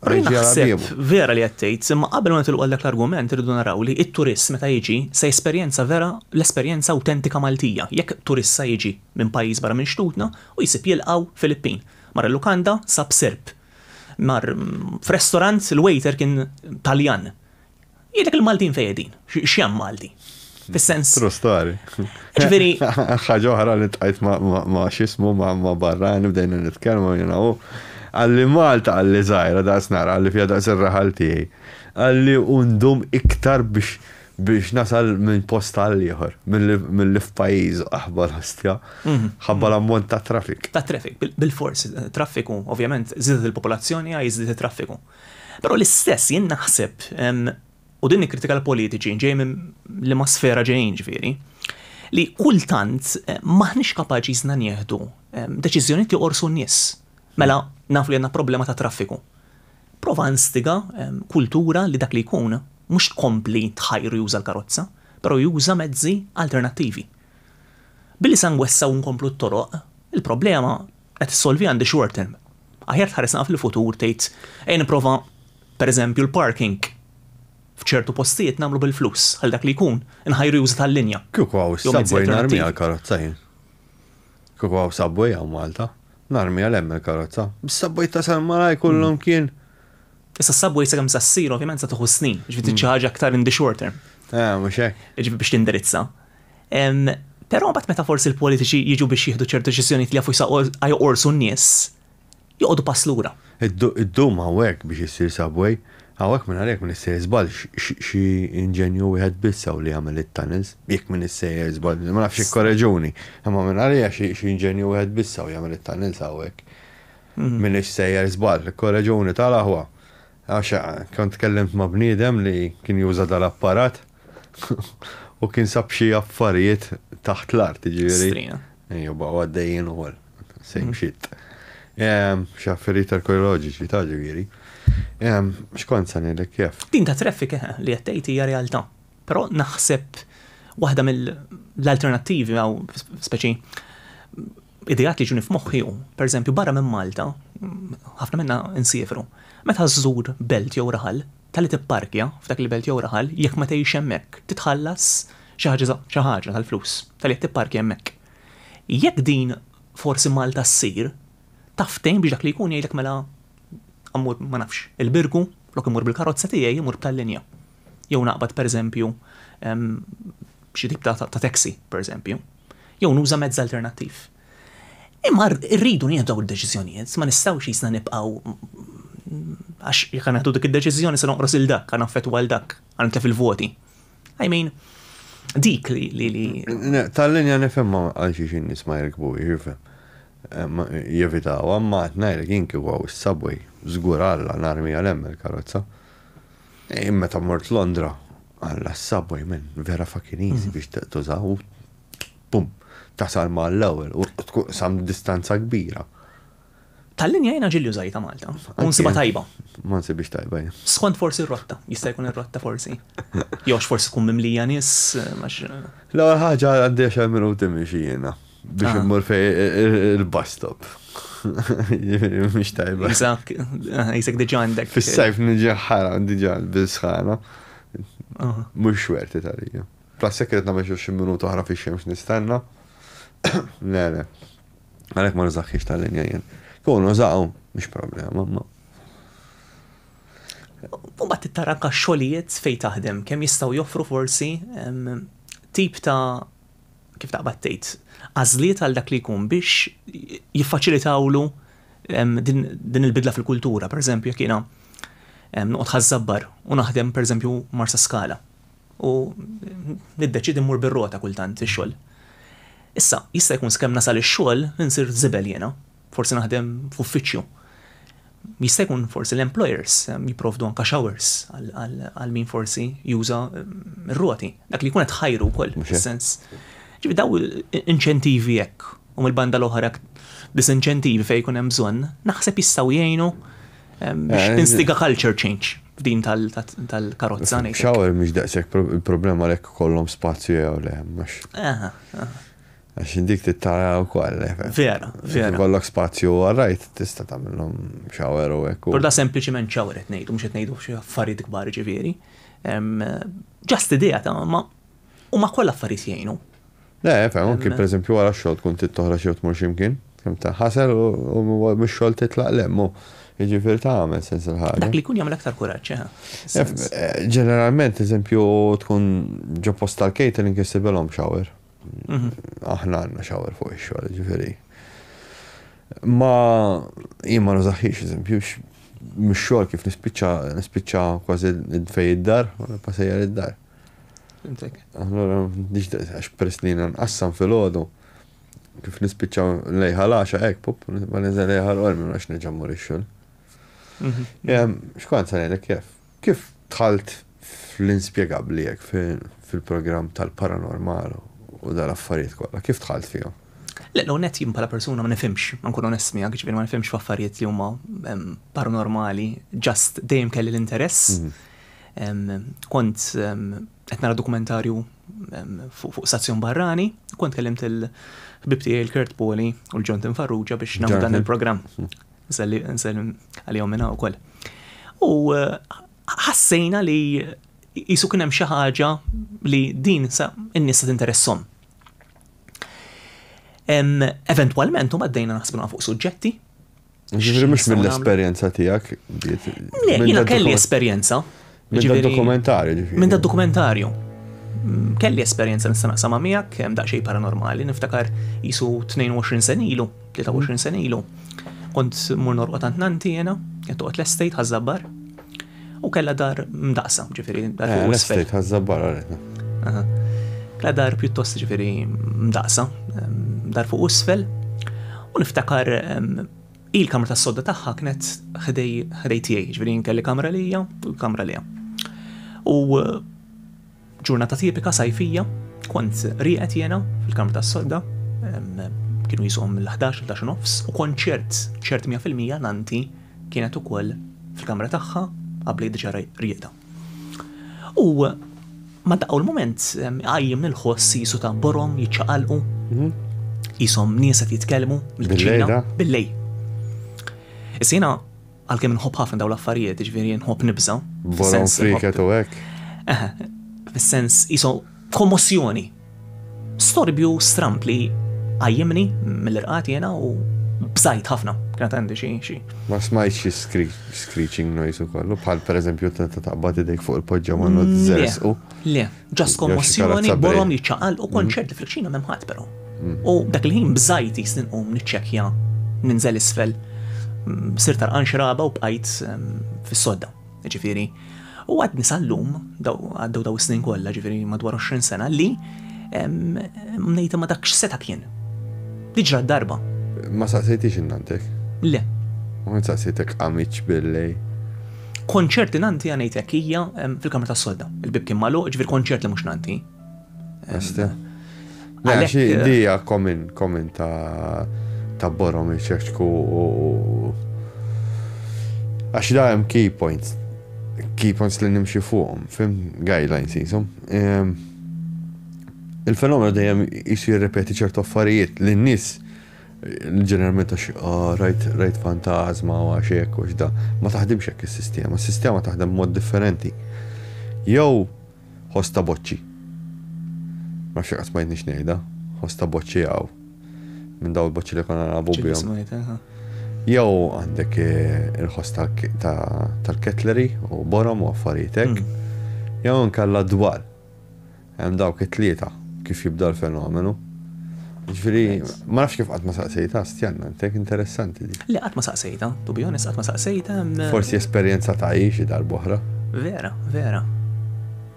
Naħseb vera li qed tgħid, imma qabel ma nitilqu għal dak l-argument irridu naraw li t-turist meta jiġi se jesperjenza vera l-esperjenza awtentika Maltija. Jekk turist sa jiġi minn pajjiż barra minn xtutna u jsib jilqgħu Filippin. Mar il-lukanda sab Serb. Mar f'restorant il-waiter kien Taljan. Jgħidlek il-Maltin fejn qegħdin, x'hemm Malti. Fis-sens. True story. Ġifieri. Ħaġa oħra li tqajt ma' x'ismu ma' barrani bdejna nitkellmu jiena u għalli Malta għalli żgħira daqs nara għalli fiha daqs ir-raħal tiegħi. Għalli undum iktar biex biex nasal minn post għal ieħor, mill-li f'pajjiż aħbar ħastja, mhm. ħabba l-ammont ta' traffic. Ta' traffic, bil-fors, traffiku, ovvjament, zidet il-popolazzjoni għaj zidet il-traffiku. Però l-istess jien naħseb, u din nikkritika l-politiċi ġej minn liema sfera ġejjin ġifieri, li kultant m'aħniex kapaċi jsna nieħdu deċiżjonijiet li jqorsu n-nies. Mela nafu li għandna problema ta' traffiku. Prova instiga kultura li dak li jkun mhux tkompli tħajru juża l-karozza, però juża mezzi alternattivi. Billi sa nwessgħu u nkomplu t-toroq, il-problema qed issolvi għandi short term. Aħjar tħares naqra fil-futur tgħid ejja nipprova pereżempju l-parking f'ċertu postijiet nagħmlu bil-flus ħalli dak li jkun inħajru juża tal-linja. Kieku hawn is-subway narmiha l-karozza jien. Kieku hawn subway hawn Malta, narmiha l hemm il-karozza. Bis-subway ta' San Malaj kollhom hmm. kien. Issa s-subway sakemm sa ssir ovvjament sa tieħu snin, ġifieri hmm. xi ħaġa aktar in the short term. Eh, mhux hekk. Ġifieri biex tindirizza. Però mbagħad meta forsi l-politiċi jiġu biex jieħdu ċertu deċiżjonijiet li jafu jsaqqu joqorsu n-nies, joqogħdu pass lura. Iddum hawnhekk biex issir subway, hawnhekk mingħajr min issejjer żball xi inġenju wieħed biss hawn li jagħmel it-tunnels, jekk min issejjer żball, ma nafx ikkoreġuni, imma minn għalija xi inġenju wieħed biss hawn jagħmel it-tunnels hawnhekk. Minix sejjer żball, ikkoreġuni tal-aħwa. Għax kont tkellimt ma' bniedem li kien juża dal-apparat u kien sab xi affarijiet taħt l-art, jiġifieri. Strina. Ejja, baqgħu għaddejjin ukoll. Same shit. Xi affarijiet arkeoloġiċi taf jiġifieri. X'kont se ngħidlek kif? Din tat-traffic eħe, li qed tgħid hija realtà. Però naħseb waħda mill-alternattivi hawn, speċi, Ideat li jiġuni f'moħħi hu, pereżempju, barra minn Malta, ħafna minna nsiefru, meta żżur belt jew raħal, talli tipparkja f'dak il-belt jew raħal, jekk ma tgħix hemmhekk, titħallas xi ħaġa xi ħaġa tal-flus, talli qed tipparkja hemmhekk. Jekk din forsi Malta ssir, taf tgħin biex dak li jkun jgħidlek mela mmur, ma nafx, il-Birgu, flok immur bil-karozza tiegħi, immur b'tal-linja. Jew naqbad, pereżempju, xi tip ta' taxi, pereżempju. jew nuża mezz alternattiv. Imma rridu nieħdu dawn id-deċiżjonijiet, ma nistgħux qisna nibqgħu għax jekk għandna nieħdu dik id-deċiżjoni se noqros il dak, għandna affettwa l dak, għandna tlef il-voti. I mean, dik li li li. Tal-linja nifhimha għal xi xi nies ma jirkbu jirfhem. Jevitaw, imma qed ngħidlek jien kieku għaw is-subway, żgur Alla narmi għal hemm il-karozza. Jien meta mort Londra għal subway minn vera fucking easy biex tuża u bum, tasal ma l-ewwel u tkun sam distanza kbira. Tal-linja jiena ġilli użajta Malta. U nsibha tajba. Ma nsibix tajba jien. Skont forsi r-rotta, jista' jkun ir-rotta forsi. Jew għax forsi tkun mimlija nies għax. L-ewwel ħaġa għandi għaxar minuti mixi jiena. Biex immur fej il-bus stop. Mux tajba. Isak, isak diġa għandek. Fis-sajf nġi ħara diġa bil-sħana. Mux xwerti tal-ija. Plus sekret namel xi minuta oħra fi xemx nistenna. Le, le. Għalek ma nżaħħiex tal-linja jien. Kun użaw, mux problema, ma. U bat t-taranka xolijiet fej taħdem, kem jistaw joffru forsi tip ta' kif taqbad tgħid, għażliet għal dak li jkun biex jiffaċilitawlu din il-bidla fil-kultura. Per eżempju, jekk jiena noqgħod ħażżabbar u naħdem per eżempju marsa skala u niddeċidi mmur bir-rota kultant ix-xogħol. Issa, jista' jkun skemm nasal ix-xogħol insir żibel jiena. forsi naħdem f'uffiċċju. Jista' jkun forsi l-employers ehm, jipprovdu anka showers għal min forsi juża ehm, r-roti. Dak li jkun qed ħajru wkoll fis-sens. Ġifi daw inċentivi hekk u mill-banda l-oħra disinċentivi fejn jkun hemm bżonn, naħseb jistgħu jgħinu ehm, biex eh, tinstiga culture change f'din tal-karozza. Xawel mhix daqshekk il-problema lek kollhom spazju jew le, mhux. Għax dik tittara u koll. Eh, vera, vera. Kollok spazju għarrajt tista tamillom xawer u ekku. Por da sempliciment xawer etnejdu, mux etnejdu xie affarijiet kbar ġiviri. Ġast idea ta' ma u ma koll affarijiet jgħinu. Le, fem, anki per eżempju għara xol tkun tittoħra xie tmur ximkien. Fem ta' ħasel u mux xol titlaq lemmu. Ġifir ta' għamel sens il-ħagġa. Dak li kun jgħamil aktar kuraċ, eh, eh, Ġeneralment, eżempju, tkun ġo post tal-catering jessibelom xawer. Aħna għandna shower fuq ix-xogħol, jiġifieri. Ma jien ma nużaħħiex eżempju mix-xogħol kif nispiċċa nispiċċa kważi fej id-dar, passejjar id-dar. Allura għax peress li nqassam filgħodu kif nispiċċa lejħa l-għaxa hekk pop, ma niżel lejħa l-qormi għax neġa' mmur ix-xogħol. Xkont sa ngħidlek kif? Kif dħalt fl-inspjegabbli hekk fil-programm tal-paranormal u dal-affarijiet kollha? Kif dħalt fihom? Le, l-ewwel nett jien bħala persuna ma nifhimx, ma nkun onest miegħek, jiġifieri ma nifhimx f'affarijiet li huma paranormali, just dejjem kelli l-interess. Kont qed nara dokumentarju fuq stazzjon barrani, kont kellimt il-ħbib tiegħi l-Kurt Poli u l-Jonathan Farrugia biex nagħmlu dan il-programm. Nsellem għalihom minn hawn ukoll. U ħassejna li jisu kien hemm xi ħaġa li din sa n-nies tinteressom. Eventwalment huma għaddejna naħsbu fuq suġġetti. Ġifieri mhux mill-esperjenza tiegħek. Le, jiena kelli esperjenza. Minn da dokumentarju ġifieri. Minn da dokumentarju. Mm, kelli esperjenza nista' naqsama miegħek hemm daqsxejn paranormali, niftakar jisu 22 sen ilu, 23 sen ilu. Kont mur norqod għand nanti jiena, qed toqgħod l-estate ħażabbar. U kellha dar mdaqsa, ġifieri dar eh, l-estate ħażabbar Kella dar pjuttost ġifieri mdaqsa, dar fuq isfel. U niftakar Hi l-kamra tas-sodda tagħha kienet ħdej ħdej tiegħi, jiġifieri jien kelli kamra lija u l-kamra liha. U ġurnata tipika sajfija kont rieqed jiena fil-kamra tas-sodda kienu jisuhom mill-11 il nofs u kont ċert ċert 100% nanti kienet ukoll fil-kamra tagħha qabli diġà rieqda. U ma daqgħu l-mument qajjem lil ħoss jisu ta' borom jiċċaqalqu. Mhm. Jisom nies qed jitkellmu mill-ġejda bil-lej. Issa jiena għalkemm nħobb ħafna dawn l-affarijiet, ġifieri nħobb nibża. Borom friket u hekk. Fis-sens jisom Kommossjoni. Storbju stramb li qajjimni mill-irqad jiena u bżajt ħafna. Kienet għandi xi xi. Ma smajtx xi screeching noise u kollu, bħal pereżempju meta taqbad idejk fuq il-poġġa ma nod żerżqu. Le, ġast kommossjoni, borom jiċċaqal u kont ċert li fil-kċina m'hemm ħadd però. U dak il-ħin bżajt jisni nqum niċċekkja ninżel isfel. Sirt għarqan xi ragħba u bqajt fis-sodda. Ġifieri, u għadni sal-lum, għaddew daw is-snin kollha, ġifieri madwar 20 sena li mnejta ma dak x'seta' kien. Diġra darba. Ma saqsejtix innantek? Le. Ma saqsejtek għamiċ billej? Konċert li nanti għanejtek hija fil-kamra tas-solda. Il-bib kien magħluq, ġifieri konċert li mhux nanti. Este. Għalek. Eh, li hija komin, komin ta' ta' borom iċeċku u. Għax da' hemm key points. Key points li nimxi fuqhom, fim guidelines jisum. Ehm, il-fenomenu dejjem jisu jirrepeti ċertu affarijiet li n-nis ġeneralment għax ah, rajt rajt fantasma u għax hekk u x'da. Ma taħdimx hekk is-sistema, is-sistema taħdem mod differenti. Jew Ħoss ta' boċċi. Ma nafx jekk qatt smajtnix ngħidha. Ħoss ta' boċċi hawn. Minn dawn il-boċċi li konna nagħbu bihom. Ġieli smajtha, ha? Jew għandek eh, il-ħoss tal-ketleri u borom u affarijiet hekk. Hmm. Jew nkella dwar. Hemm dawk it-tlieta kif jibda l-fenomenu. Ġifieri, ma nafx kif qatt ma saqsejtha, stjanna, intek interessanti dik. Le, qatt ma saqsejtha, to be honest, qatt ma saqsejtha. Forsi esperjenza ta' hi xi darb'oħra. Vera, vera.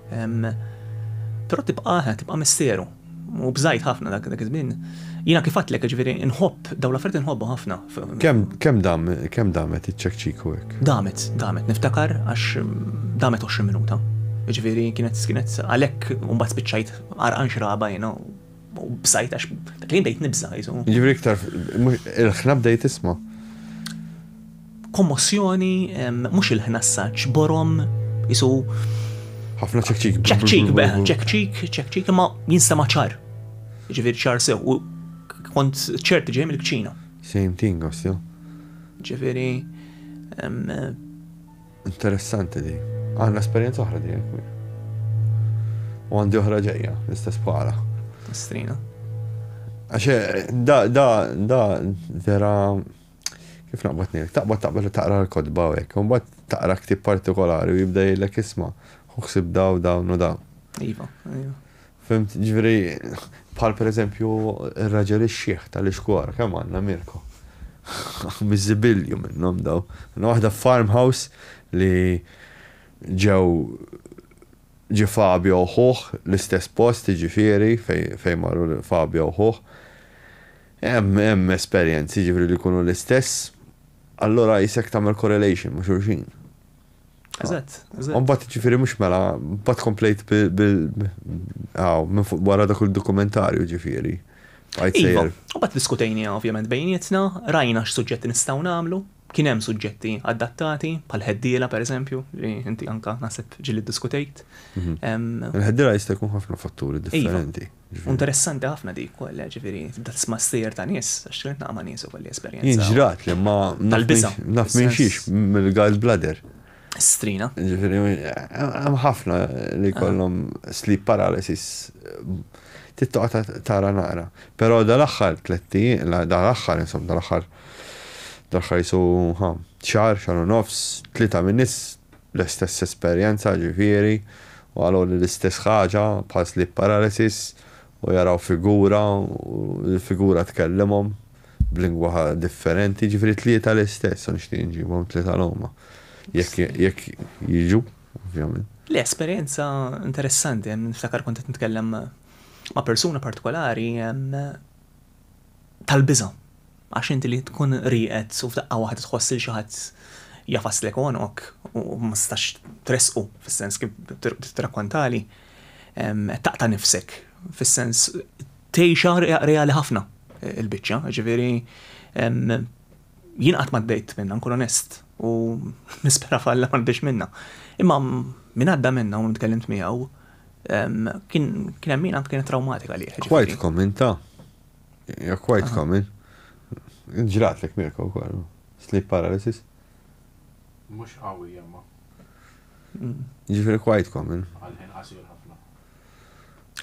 Però tibqa', tibqa' misteru. U bżajt ħafna dak iż-żmien. Jiena kif għedtlek, jiġifieri, inħobb, dawn l-affarijiet inħobbhom ħafna. Kemm dam, kemm damet iċ-ċekċiku hekk? Damet, damet, niftakar għax damet għoxrin minuta. Jiġifieri, kienet, kienet, għalhekk imbagħad spiċċajt. Għarqan xraba jina u bsajt għax dak li bdejt nibża jisu. Ġivri iktar, il-ħna bdejt isma. Kommossjoni, mux il-ħna s-saċ, borom, jisu. ħafna ċekċik. ċekċik, beħ, ċekċik, ċekċik, ma jinsta maċar. Ġivir ċar sew, u kont ċert ġej mill-kċina. Same thing, għasja. Ġiviri, Interessanti di. Għandna esperjenza oħra di jekk mir. U għandi oħra ġejja, l-istess bħala. Strina. Għaxe, da, da, da, vera, kif naqbad nil, taqbad taqbad taqra l-kodba u jekk, un bat taqra ktib partikolari u jibda jillek isma, u ksib daw dawn u daw. Iva, iva. Fimt, jiġifieri bħal pereżempju r-raġel ix-xiħ tal-Ixkuar, kemm għandna Mirko? Miżibilju minnhom dawn. Għandna waħda f'Farmhouse li ġew ġie Fabio u ħuh l-istess post jiġifieri fejn marru Fabio u ħuh. Hemm esperjenzi jiġifieri li jkunu l-istess, allura qisek tagħmel correlation ma' xulxin. Eżatt, eżatt. Mbagħad ġifieri mhux mela, mbagħad komplejt bil aw minn fuq wara dak il-dokumentarju ġifieri. Għajt iva, sejjer. U bat diskutejni ovvjament bejnietna, rajna x'suġġetti nistgħu nagħmlu, kien hemm suġġetti adattati, bħal ħeddiela pereżempju, li inti anka naħseb ġili ddiskutejt. Mhm. Em, Il-ħeddira jista' jkun ħafna fatturi Iva. differenti. U interessanti ħafna dik ukoll, eh, ġifieri tibda tisma' stejjer ta' nies, għax tkellimt naqa' ma' nies ukoll li esperjenza. Jien ġrat li ma naf minn xiex mill-gall bladder. Strina. Ġifieri hemm ħafna li kollhom sleep paralysis tittoqa tara naqra. Però dal-aħħar tletti, dal-aħħar insomma, dal-aħħar dal-aħħar jisu xar, xar u nofs, tlieta minn nies L-istess esperjenza, ġifieri, u qaluli l-istess ħaġa, bħal sleep paralysis, u jaraw figura u l-figura tkellimhom b'lingwa differenti, ġifieri t-tlieta l-istess, u nixtieq nġibhom t-tlieta l-huma, jekk jekk jiġu, ovvjament. Le, esperjenza interessanti, niftakar kont qed nitkellem ma' persuna partikolari, tal-biża'. Għax inti li tkun rieqed u f'daqqa waħda tħoss lil xi ħadd jagħfaslek għonqok u ma tistax tressqu fis-sens kif tirrakkontali, qed taqta' nifsek fis-sens tgħixha reali ħafna il-biċċa, jiġifieri jien qatt m'għaddejt minnha nkun onest u nispera f'Alla m'għaddix minnha. Imma min għadda minnha u tkellimt miegħu, Kien hemm min anke kienet trawmatika għalih. jiġifieri. Quite common ta. Hija quite common. Ġrat lek Mirko wkoll. Sleep paralysis. Mhux qawwi imma. Jiġifieri quite common. Għall-ħin qasir ħafna.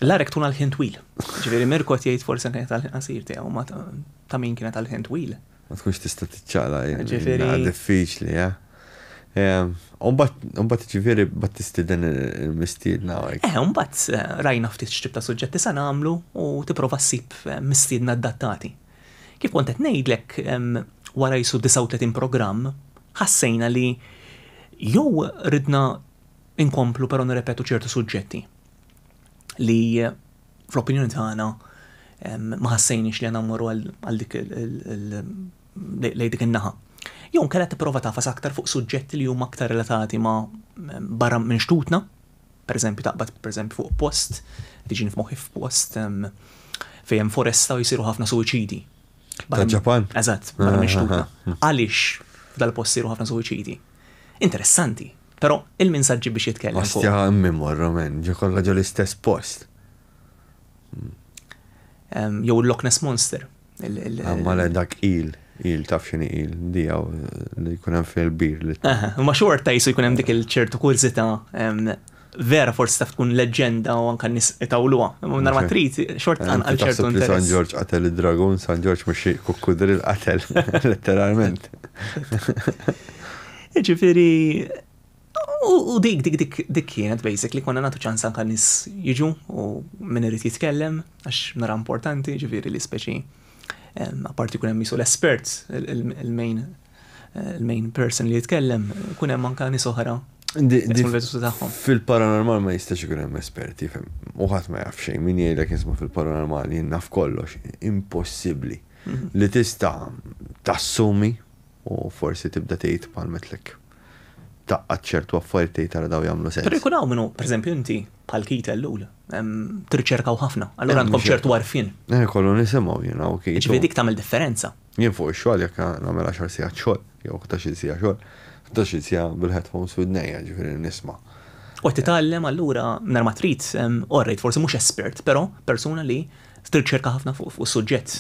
L-arek tkun għall-ħin twil. Jiġifieri Mirko qed jgħid forsi anke għall-ħin qasir tiegħu ma ta' min kienet għall-ħin twil. Ma tkunx tista' tiċċaqlaq in-naħa Ġifieri- diffiċli, eh? Ehm, u mbagħad, u mbagħad ġifieri mbagħad tistieden il-mistiedna hawnhekk. Eh, u mbagħad eh, rajna ftit x'tip ta' suġġetti se nagħmlu u tipprova ssib eh, mistiedna adattati. Kif kont qed ngħidlek, ehm, wara jisu 39 programm, ħassejna li jew ridna inkomplu però nirrepetu ċertu suġġetti li eh, fl-opinjoni tagħna ma ħassejniex li għandna mmorru għal dik lejn dik in-naħa. Jew nkella tipprova tafas aktar fuq suġġetti li huma aktar relatati ma' barra minn xtutna, pereżempju taqbad pereżempju fuq post, tiġini f'moħħi f'post fejn hemm foresta u jsiru ħafna suwiċidi. Ġapan? Eżatt, barra minn xtutna. Għaliex dal-post jsiru ħafna suwiċidi? Interessanti, Però, il-min sa ġġib biex jitkellem fuq. Ostja hemm min morru men, ġo kollha ġo l-istess post. Jew il-Loch Ness Monster. Imma le dak il, il taf xini il, dijaw li jkun hemm fil-bir. Ma xorta jisu jkun hemm dik il-ċertu kurzita vera forsi taf tkun leġenda u anka nis itawluha. Nar ma trid xort għal ċertu interess. San Ġorġ qatel id-dragun, San Ġorġ mhux kukkudri l-qatel, letteralment. Ġifieri u dik dik dik dik kienet basically konna nagħtu ċans anke nies jiġu u min irid jitkellem għax nara importanti, ġifieri li speċi apparti kun hemm jisu l-espert, il-main il-main person li jitkellem, kun hemm anke nies oħra Fil-paranormal ma jistax ikun hemm esperti, fem. Uħat ma jaf xejn, min jgħidlek jisma fil-paranormal jien naf kollox, impossibbli. Mhm. Li tista' tassumi U forsi tibda tgħid bħal metlek. Tgħaqqad ċertu affarijiet tgħid tara daw jagħmlu sens. Però jkun hawn min hu, pereżempju inti, bħal Keith Ellul, tirriċerkaw ħafna, allura għandkom ċertu għarfien. Eh, kollu nisimgħu jien hawn Keith. Ġifieri dik tagħmel differenza. Jien fuq ix-xogħol jekk nagħmel għaxar sigħat xogħol, jew 11-il sigħa xogħol, 11-il sigħa bil-headphones widnejja, ġifieri nisma'. U titgħallem allura nar ma trid orrejt forsi mhux espert, però persuna li Tirċerka ħafna fuq suġġett.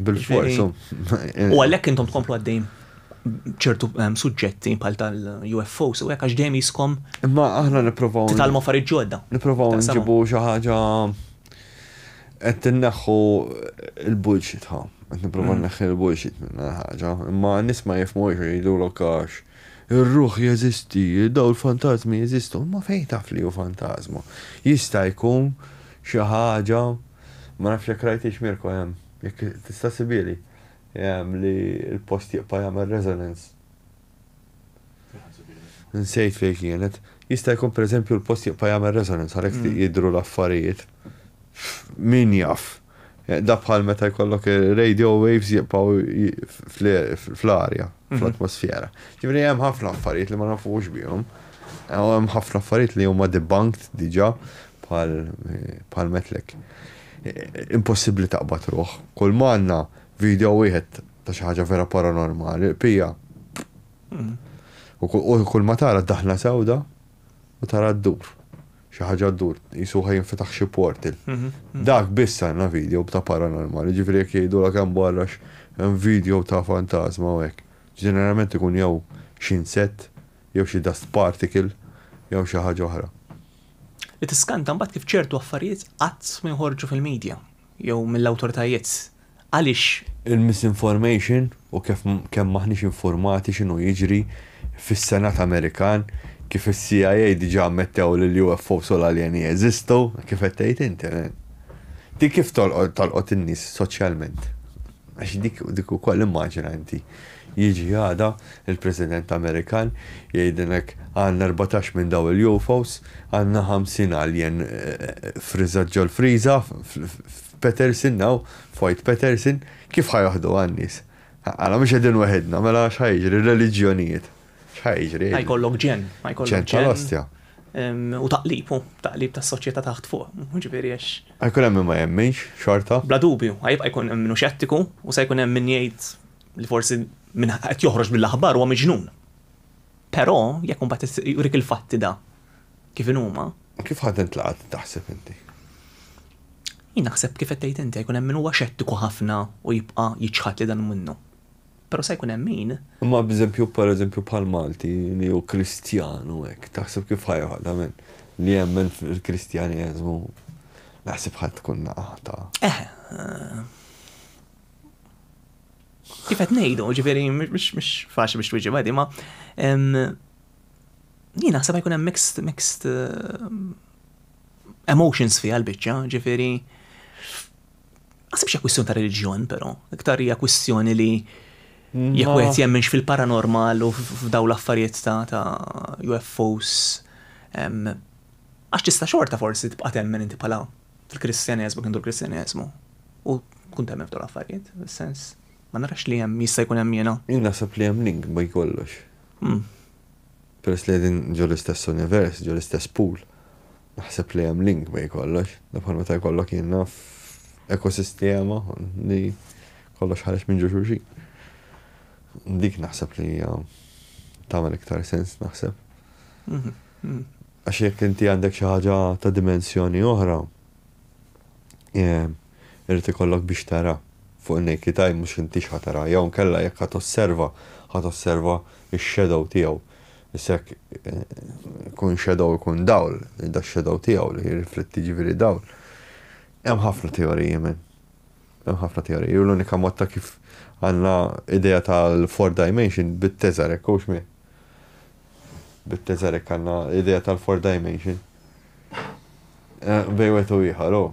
Bil-fors. U għalhekk intom tkomplu għaddejn ċertu ehm, suġġetti bħal tal-UFO, so hekk għax dejjem jiskom. Imma aħna nippruvaw. Titalmu affarijiet ġodda. Nippruvaw nġibu xi ħaġa qed tinneħħu l-bullshit ħa. Qed nippruvaw mm. neħħi l-bullshit minn ħaġa. Imma nies ma jifhmux jgħidu lokax. Ir-ruħ jeżisti, daw l-fantasmi jeżistu, ma fejn taf li hu fantasma. Jista' jkun xi ħaġa, ma nafx jekk rajtiex Mirko hemm, jekk tista' ssibieli, hemm li l-post jibqa' jagħmel resonance. Nsejt fejn kienet. Jista' jkun pereżempju l-post jibqa' jagħmel resonance għalhekk ftit jidhru l-affarijiet. Min jaf. Dak bħal meta jkollok ir-radio waves jibqgħu fl-arja, fl-atmosfera. Ġifieri hemm ħafna affarijiet li ma nafux bihom. U hemm ħafna affarijiet li huma debunked diġà Bħal, bħal Metlek. Impossibbli taqbad ruħ. Kull m'għandna, video wieħed ta' xi ħaġa vera paranormali, il-bqija, pff. U kull ma tara d-daħla sewda u tara ddur. Xi ħaġa ddur, qisu ħa jinfetaħ xi portal. Dak biss għandna video ta' paranormali, jiġifieri jekk jgħidulek hemm barra hemm video ta' fantasma u hekk. Ġeneralment ikun jew xi insett, jew xi dust particle, jew xi ħaġa oħra. li tiskanta mbagħad kif ċertu affarijiet qatt ma joħorġu fil-media jew mill-awtoritajiet. Għaliex? Il-misinformation u kif kemm m'aħniex infurmati x'inhu jiġri fis-Senat Amerikan, kif is-CIA diġà ammettew li l-UFOs u l-aljeni jeżistu, kif qed tgħid inti. Din kif tolqot in-nies soċjalment? Għax dik, dik ukoll immaġina inti, jiġi għada il-President Amerikan jgħidilna hekk, għandna erbatax minn dawn il-UFOs, għandna ħamsin alien friżat ġol-friża f'Peterson hawn, f'White Peterson, kif ħa joħduha n-nies? Għala mhux qegħdin weħidna, mela x'ħa jiġri, r-reliġjonijiet? X'ħa jiġri? Ħa jkollok ġen, ħa jkollok ġen. Ġen tal-ostja. U taqlib, u taqlib tas soċjetà taħt fuq, ġifieri għax. Għajkun hemm ma jemminx xorta? Bla dubju, għajibqa' jkun hemm minnu xettiku u se jkun hemm min jgħid li forsi minn qed joħroġ mill-aħbar huwa miġnun. Però jekk imbagħad jurik il-fatti da kif inhuma. Kif ħadd intlaqat taħseb inti? Jien naħseb kif qed tgħid inti jkun hemm min huwa xettiku ħafna u jibqa' jiċħad li dan minnu. Però se jkun hemm min. Imma b'eżempju, pereżempju bħal Malti li hu Kristjan u hekk, taħseb kif ħa joħod għal min li jemmen fil-Kristjaneżmu? Naħseb ħa tkun naqata. Eħe. Kif qed ngħidu, ġifieri mhux faċli biex twieġi għadi, ma jien naħseb jkun hemm mixed mixed eh, emotions fiha l-biċċa, ġifieri Għasibx hija kwistjoni ta' reliġjon, però, iktar hija kwistjoni li jekk wieħed jemminx fil-paranormal u f'daw l-affarijiet ta' UFOs. Għax tista' xorta forsi tibqa' temmen inti bħala fil-Kristjaneżmu kien dur Kristjaneżmu. U tkun temmen f'daw l-affarijiet, sens. Ma narax li hemm jista' jkun hemm jiena. Jien naħseb li hemm link bej kollox. Hmm. Peress li qegħdin ġol istess univers, ġol istess pool. Naħseb li hemm link bejn kollox. Dak bħal meta jkollok jien naf ekosistema li kollox ħareġ minn ġo xulxin. Dik naħseb li hija tagħmel iktar sens naħseb. Mhm, mhm. Għax jekk inti għandek xi ħaġa ta' dimensjoni oħra, eh, irrid ikollok biex tara fuq in-naked eye mhux inti x'ħatara, jew nkella jekk ħadd osserva, ħadd osserva x-shadow tiegħu Issa jekk ikun shadow ikun dawl, da shadow tiegħu li jirrifletti jiġifieri dawl. Hemm ħafna teoriji men. Hemm ħafna teoriji u l-unika mod ta' kif għandna idea tal-four dimension bit-Teżarek hux min? Bit-Teżarek għandna idea tal-four dimension. Bejn wieħed u ieħor hu.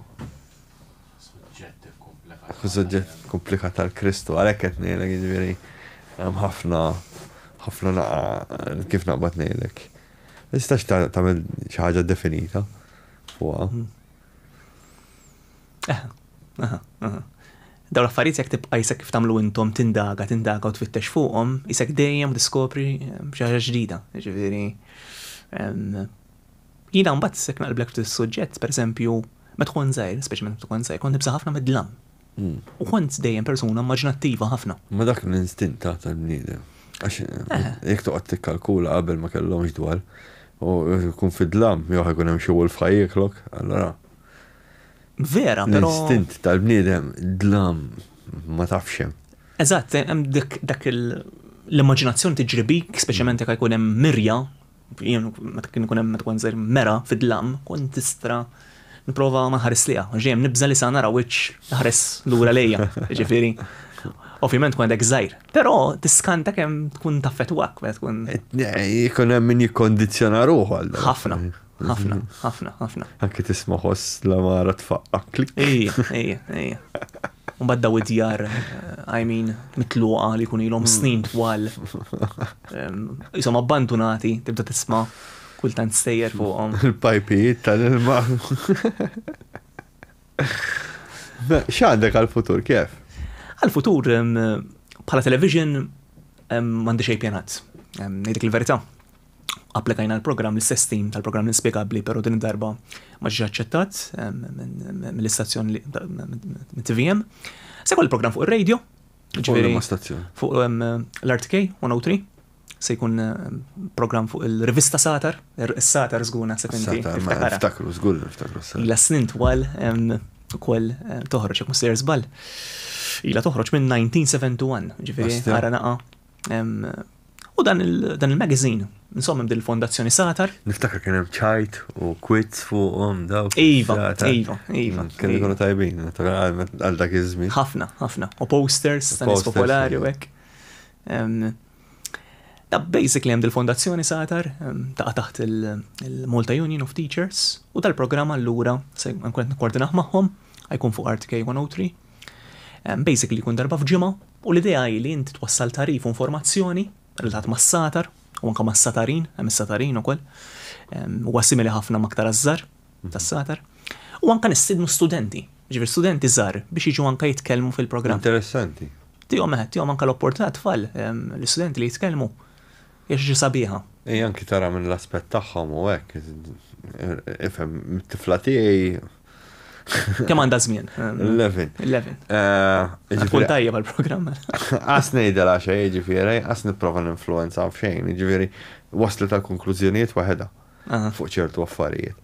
suġġett komplikat tal-Kristu, għalhekk qed ngħidlek jiġifieri hemm ħafna ħafna naqa kif naqbad ngħidlek. Ma tistax tagħmel xi ħaġa definita fuqha. Hmm. Daw l-affarijiet jekk tibqa' jisek kif tagħmlu intom tindaga, tindaga u tfittex fuqhom, jisek dejjem diskopri eh, xi ħaġa ġdida. Ġifieri Jiena mbagħad jekk naqlblek ftit is-suġġett, pereżempju, meta kont żgħir, speċjalment meta kont żgħir, kont nibża' ħafna mid-dlam. U kont dejjem persuna immaġinattiva ħafna. Ma dak l-instint ta' tal-bniedem. Għax jekk toqgħod tikkalkula qabel ma kellhomx dwal, u tkun fid-dlam, jew ħa jkun hemm xi wolf ħa jieklok, allura. Vera, però. L-instint tal-bniedem, dlam, ma tafx hemm. Eżatt, hemm dik l-immaġinazzjoni tiġri bik, speċjalment jekk ħa jkun hemm mirja, Jien meta kien ikun hemm meta kont żgħir mera fid-dlam, kont nista' nipprova ma nħares liha, għax dejjem nibża' li sa nara wiċċ jaħres lura lejja, jiġifieri. Ovvjament kont hekk żgħir, però tiskanta kemm tkun taffettwak meta tkun. Ikun hemm min jikkondizzjona ruħu għal dan. Ħafna, ħafna, ħafna, ħafna. Anke tisma' ħoss l-amara tfaqqa klik. Ejja, ejja, ejja. Mbagħad daw id-djar, I mean, mitluqa li jkun ilhom snin twal. Qishom abbandunati, tibda tisma' kultant stejjer fuqhom. Il-pajpijiet tal-ilma. X'għandek għal-futur kif? Għal-futur bħala television m'għandi xejn pjanat. Ngħidlek il-verità. Applikajna l-programm l-istess tim tal-programm inspjegabbli, però din id-darba ma ġiex aċċettat mill-istazzjon mit-TVM. Se jkolli programm fuq ir-radio, Ġifieri ma stazzjon. Fuq hemm eh, l-RTK 103 se jkun eh, programm fuq il-rivista Satar, er, is-Satar żgur naħseb inti. Satar, ma tiftakara. niftakru, żgur li niftakru s-sar. Ila snin twal em, ukoll eh, toħroġ jekk mhux sejjer żball. Ila toħroġ minn 1971, ġifieri Basta. ara naqa em, U dan il-magazine, insomma din il-fondazzjoni Satar. Niftakar kien hemm ċajt u kwitz fuqhom daw. Iva, iva, iva. Mm, kien ikunu tajbin, għal dak iż-żmien. Ħafna, ħafna. U posters, stanis popolari u hekk. Da basically hemm il-fondazzjoni Satar ta' taħt il-Malta Union of Teachers u tal-programm allura se nkun qed nikkoordinah magħhom, għajkun fuq Art K103. Basically kun darba f'ġimgħa U l-idea hi li inti twassal tagħrif u informazzjoni relatat mas-satar u anke mas-satarin, hemm is-satarin ukoll, huwa simili ħafna ma' aktar għaż-żgħar tas-satar. U anke nistiednu studenti, jiġifieri studenti żgħar biex jiġu anke jitkellmu fil-programm. Interessanti. Tihom eħ, tihom anke l-opportunità għat-tfal, l-istudenti li jitkellmu, hija xi ħaġa sabiħa. Hi anke tara minn l-aspett tagħhom u hekk, ifhem, it-tifla tiegħi Kemm għandha żmien? 11. 11. Ġifieri tajjeb għall-programm. Qas ngħidha la xejn, ġifieri, qas nipprova ninfluwenza f'xejn, ġifieri wasli tal-konklużjonijiet waħedha fuq ċertu affarijiet.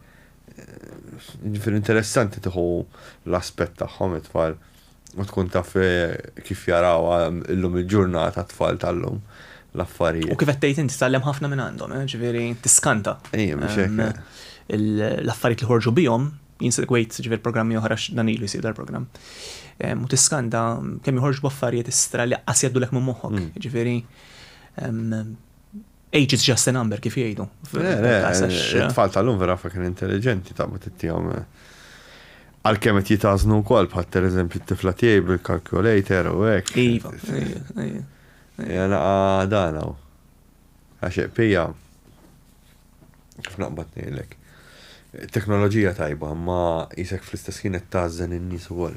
Ġifieri interessanti tieħu l-aspett tagħhom it-tfal. U tkun taf kif jarawha illum il-ġurnata t-tfal tal-lum l-affarijiet. U kif qed tgħid inti tgħallem ħafna minn għandhom, eh, ġifieri tiskanta. Ejja, mhux hekk. Ehm, eh. L-affarijiet li ħorġu bihom jinsegwejt ġifier programmi oħra dan ilu jsir dal-programm. Ehm, u tiskanta kemm joħorġu b'affarijiet istra li qassijaddulek minn moħħok, mm. ġifieri ehm, Age is just a number, kif jgħidu. It-tfal tal-lum vera fakin intelligenti ta' ma tittijom. Għal-kem qed jitaznu wkoll bħal per eżempju t-tifla tiegħi bil-calculator u hekk. Iva. Jana għadana. Għaxeq pija. Kif naqbad ngħidlek. Teknoloġija tajba, ma jisek fl-istess ħin qed tażen in-nies ukoll.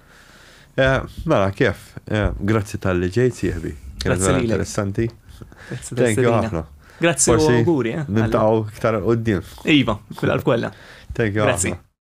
Eh, mela, kif? Eh, grazzi tal-li ġejt, sieħbi. Kienet vera interessanti. Thank you ħafna. Grazzi u għuri. Eh, Nintaw iktar għoddim. Iva, kull kolla. Thank you. Grazzi.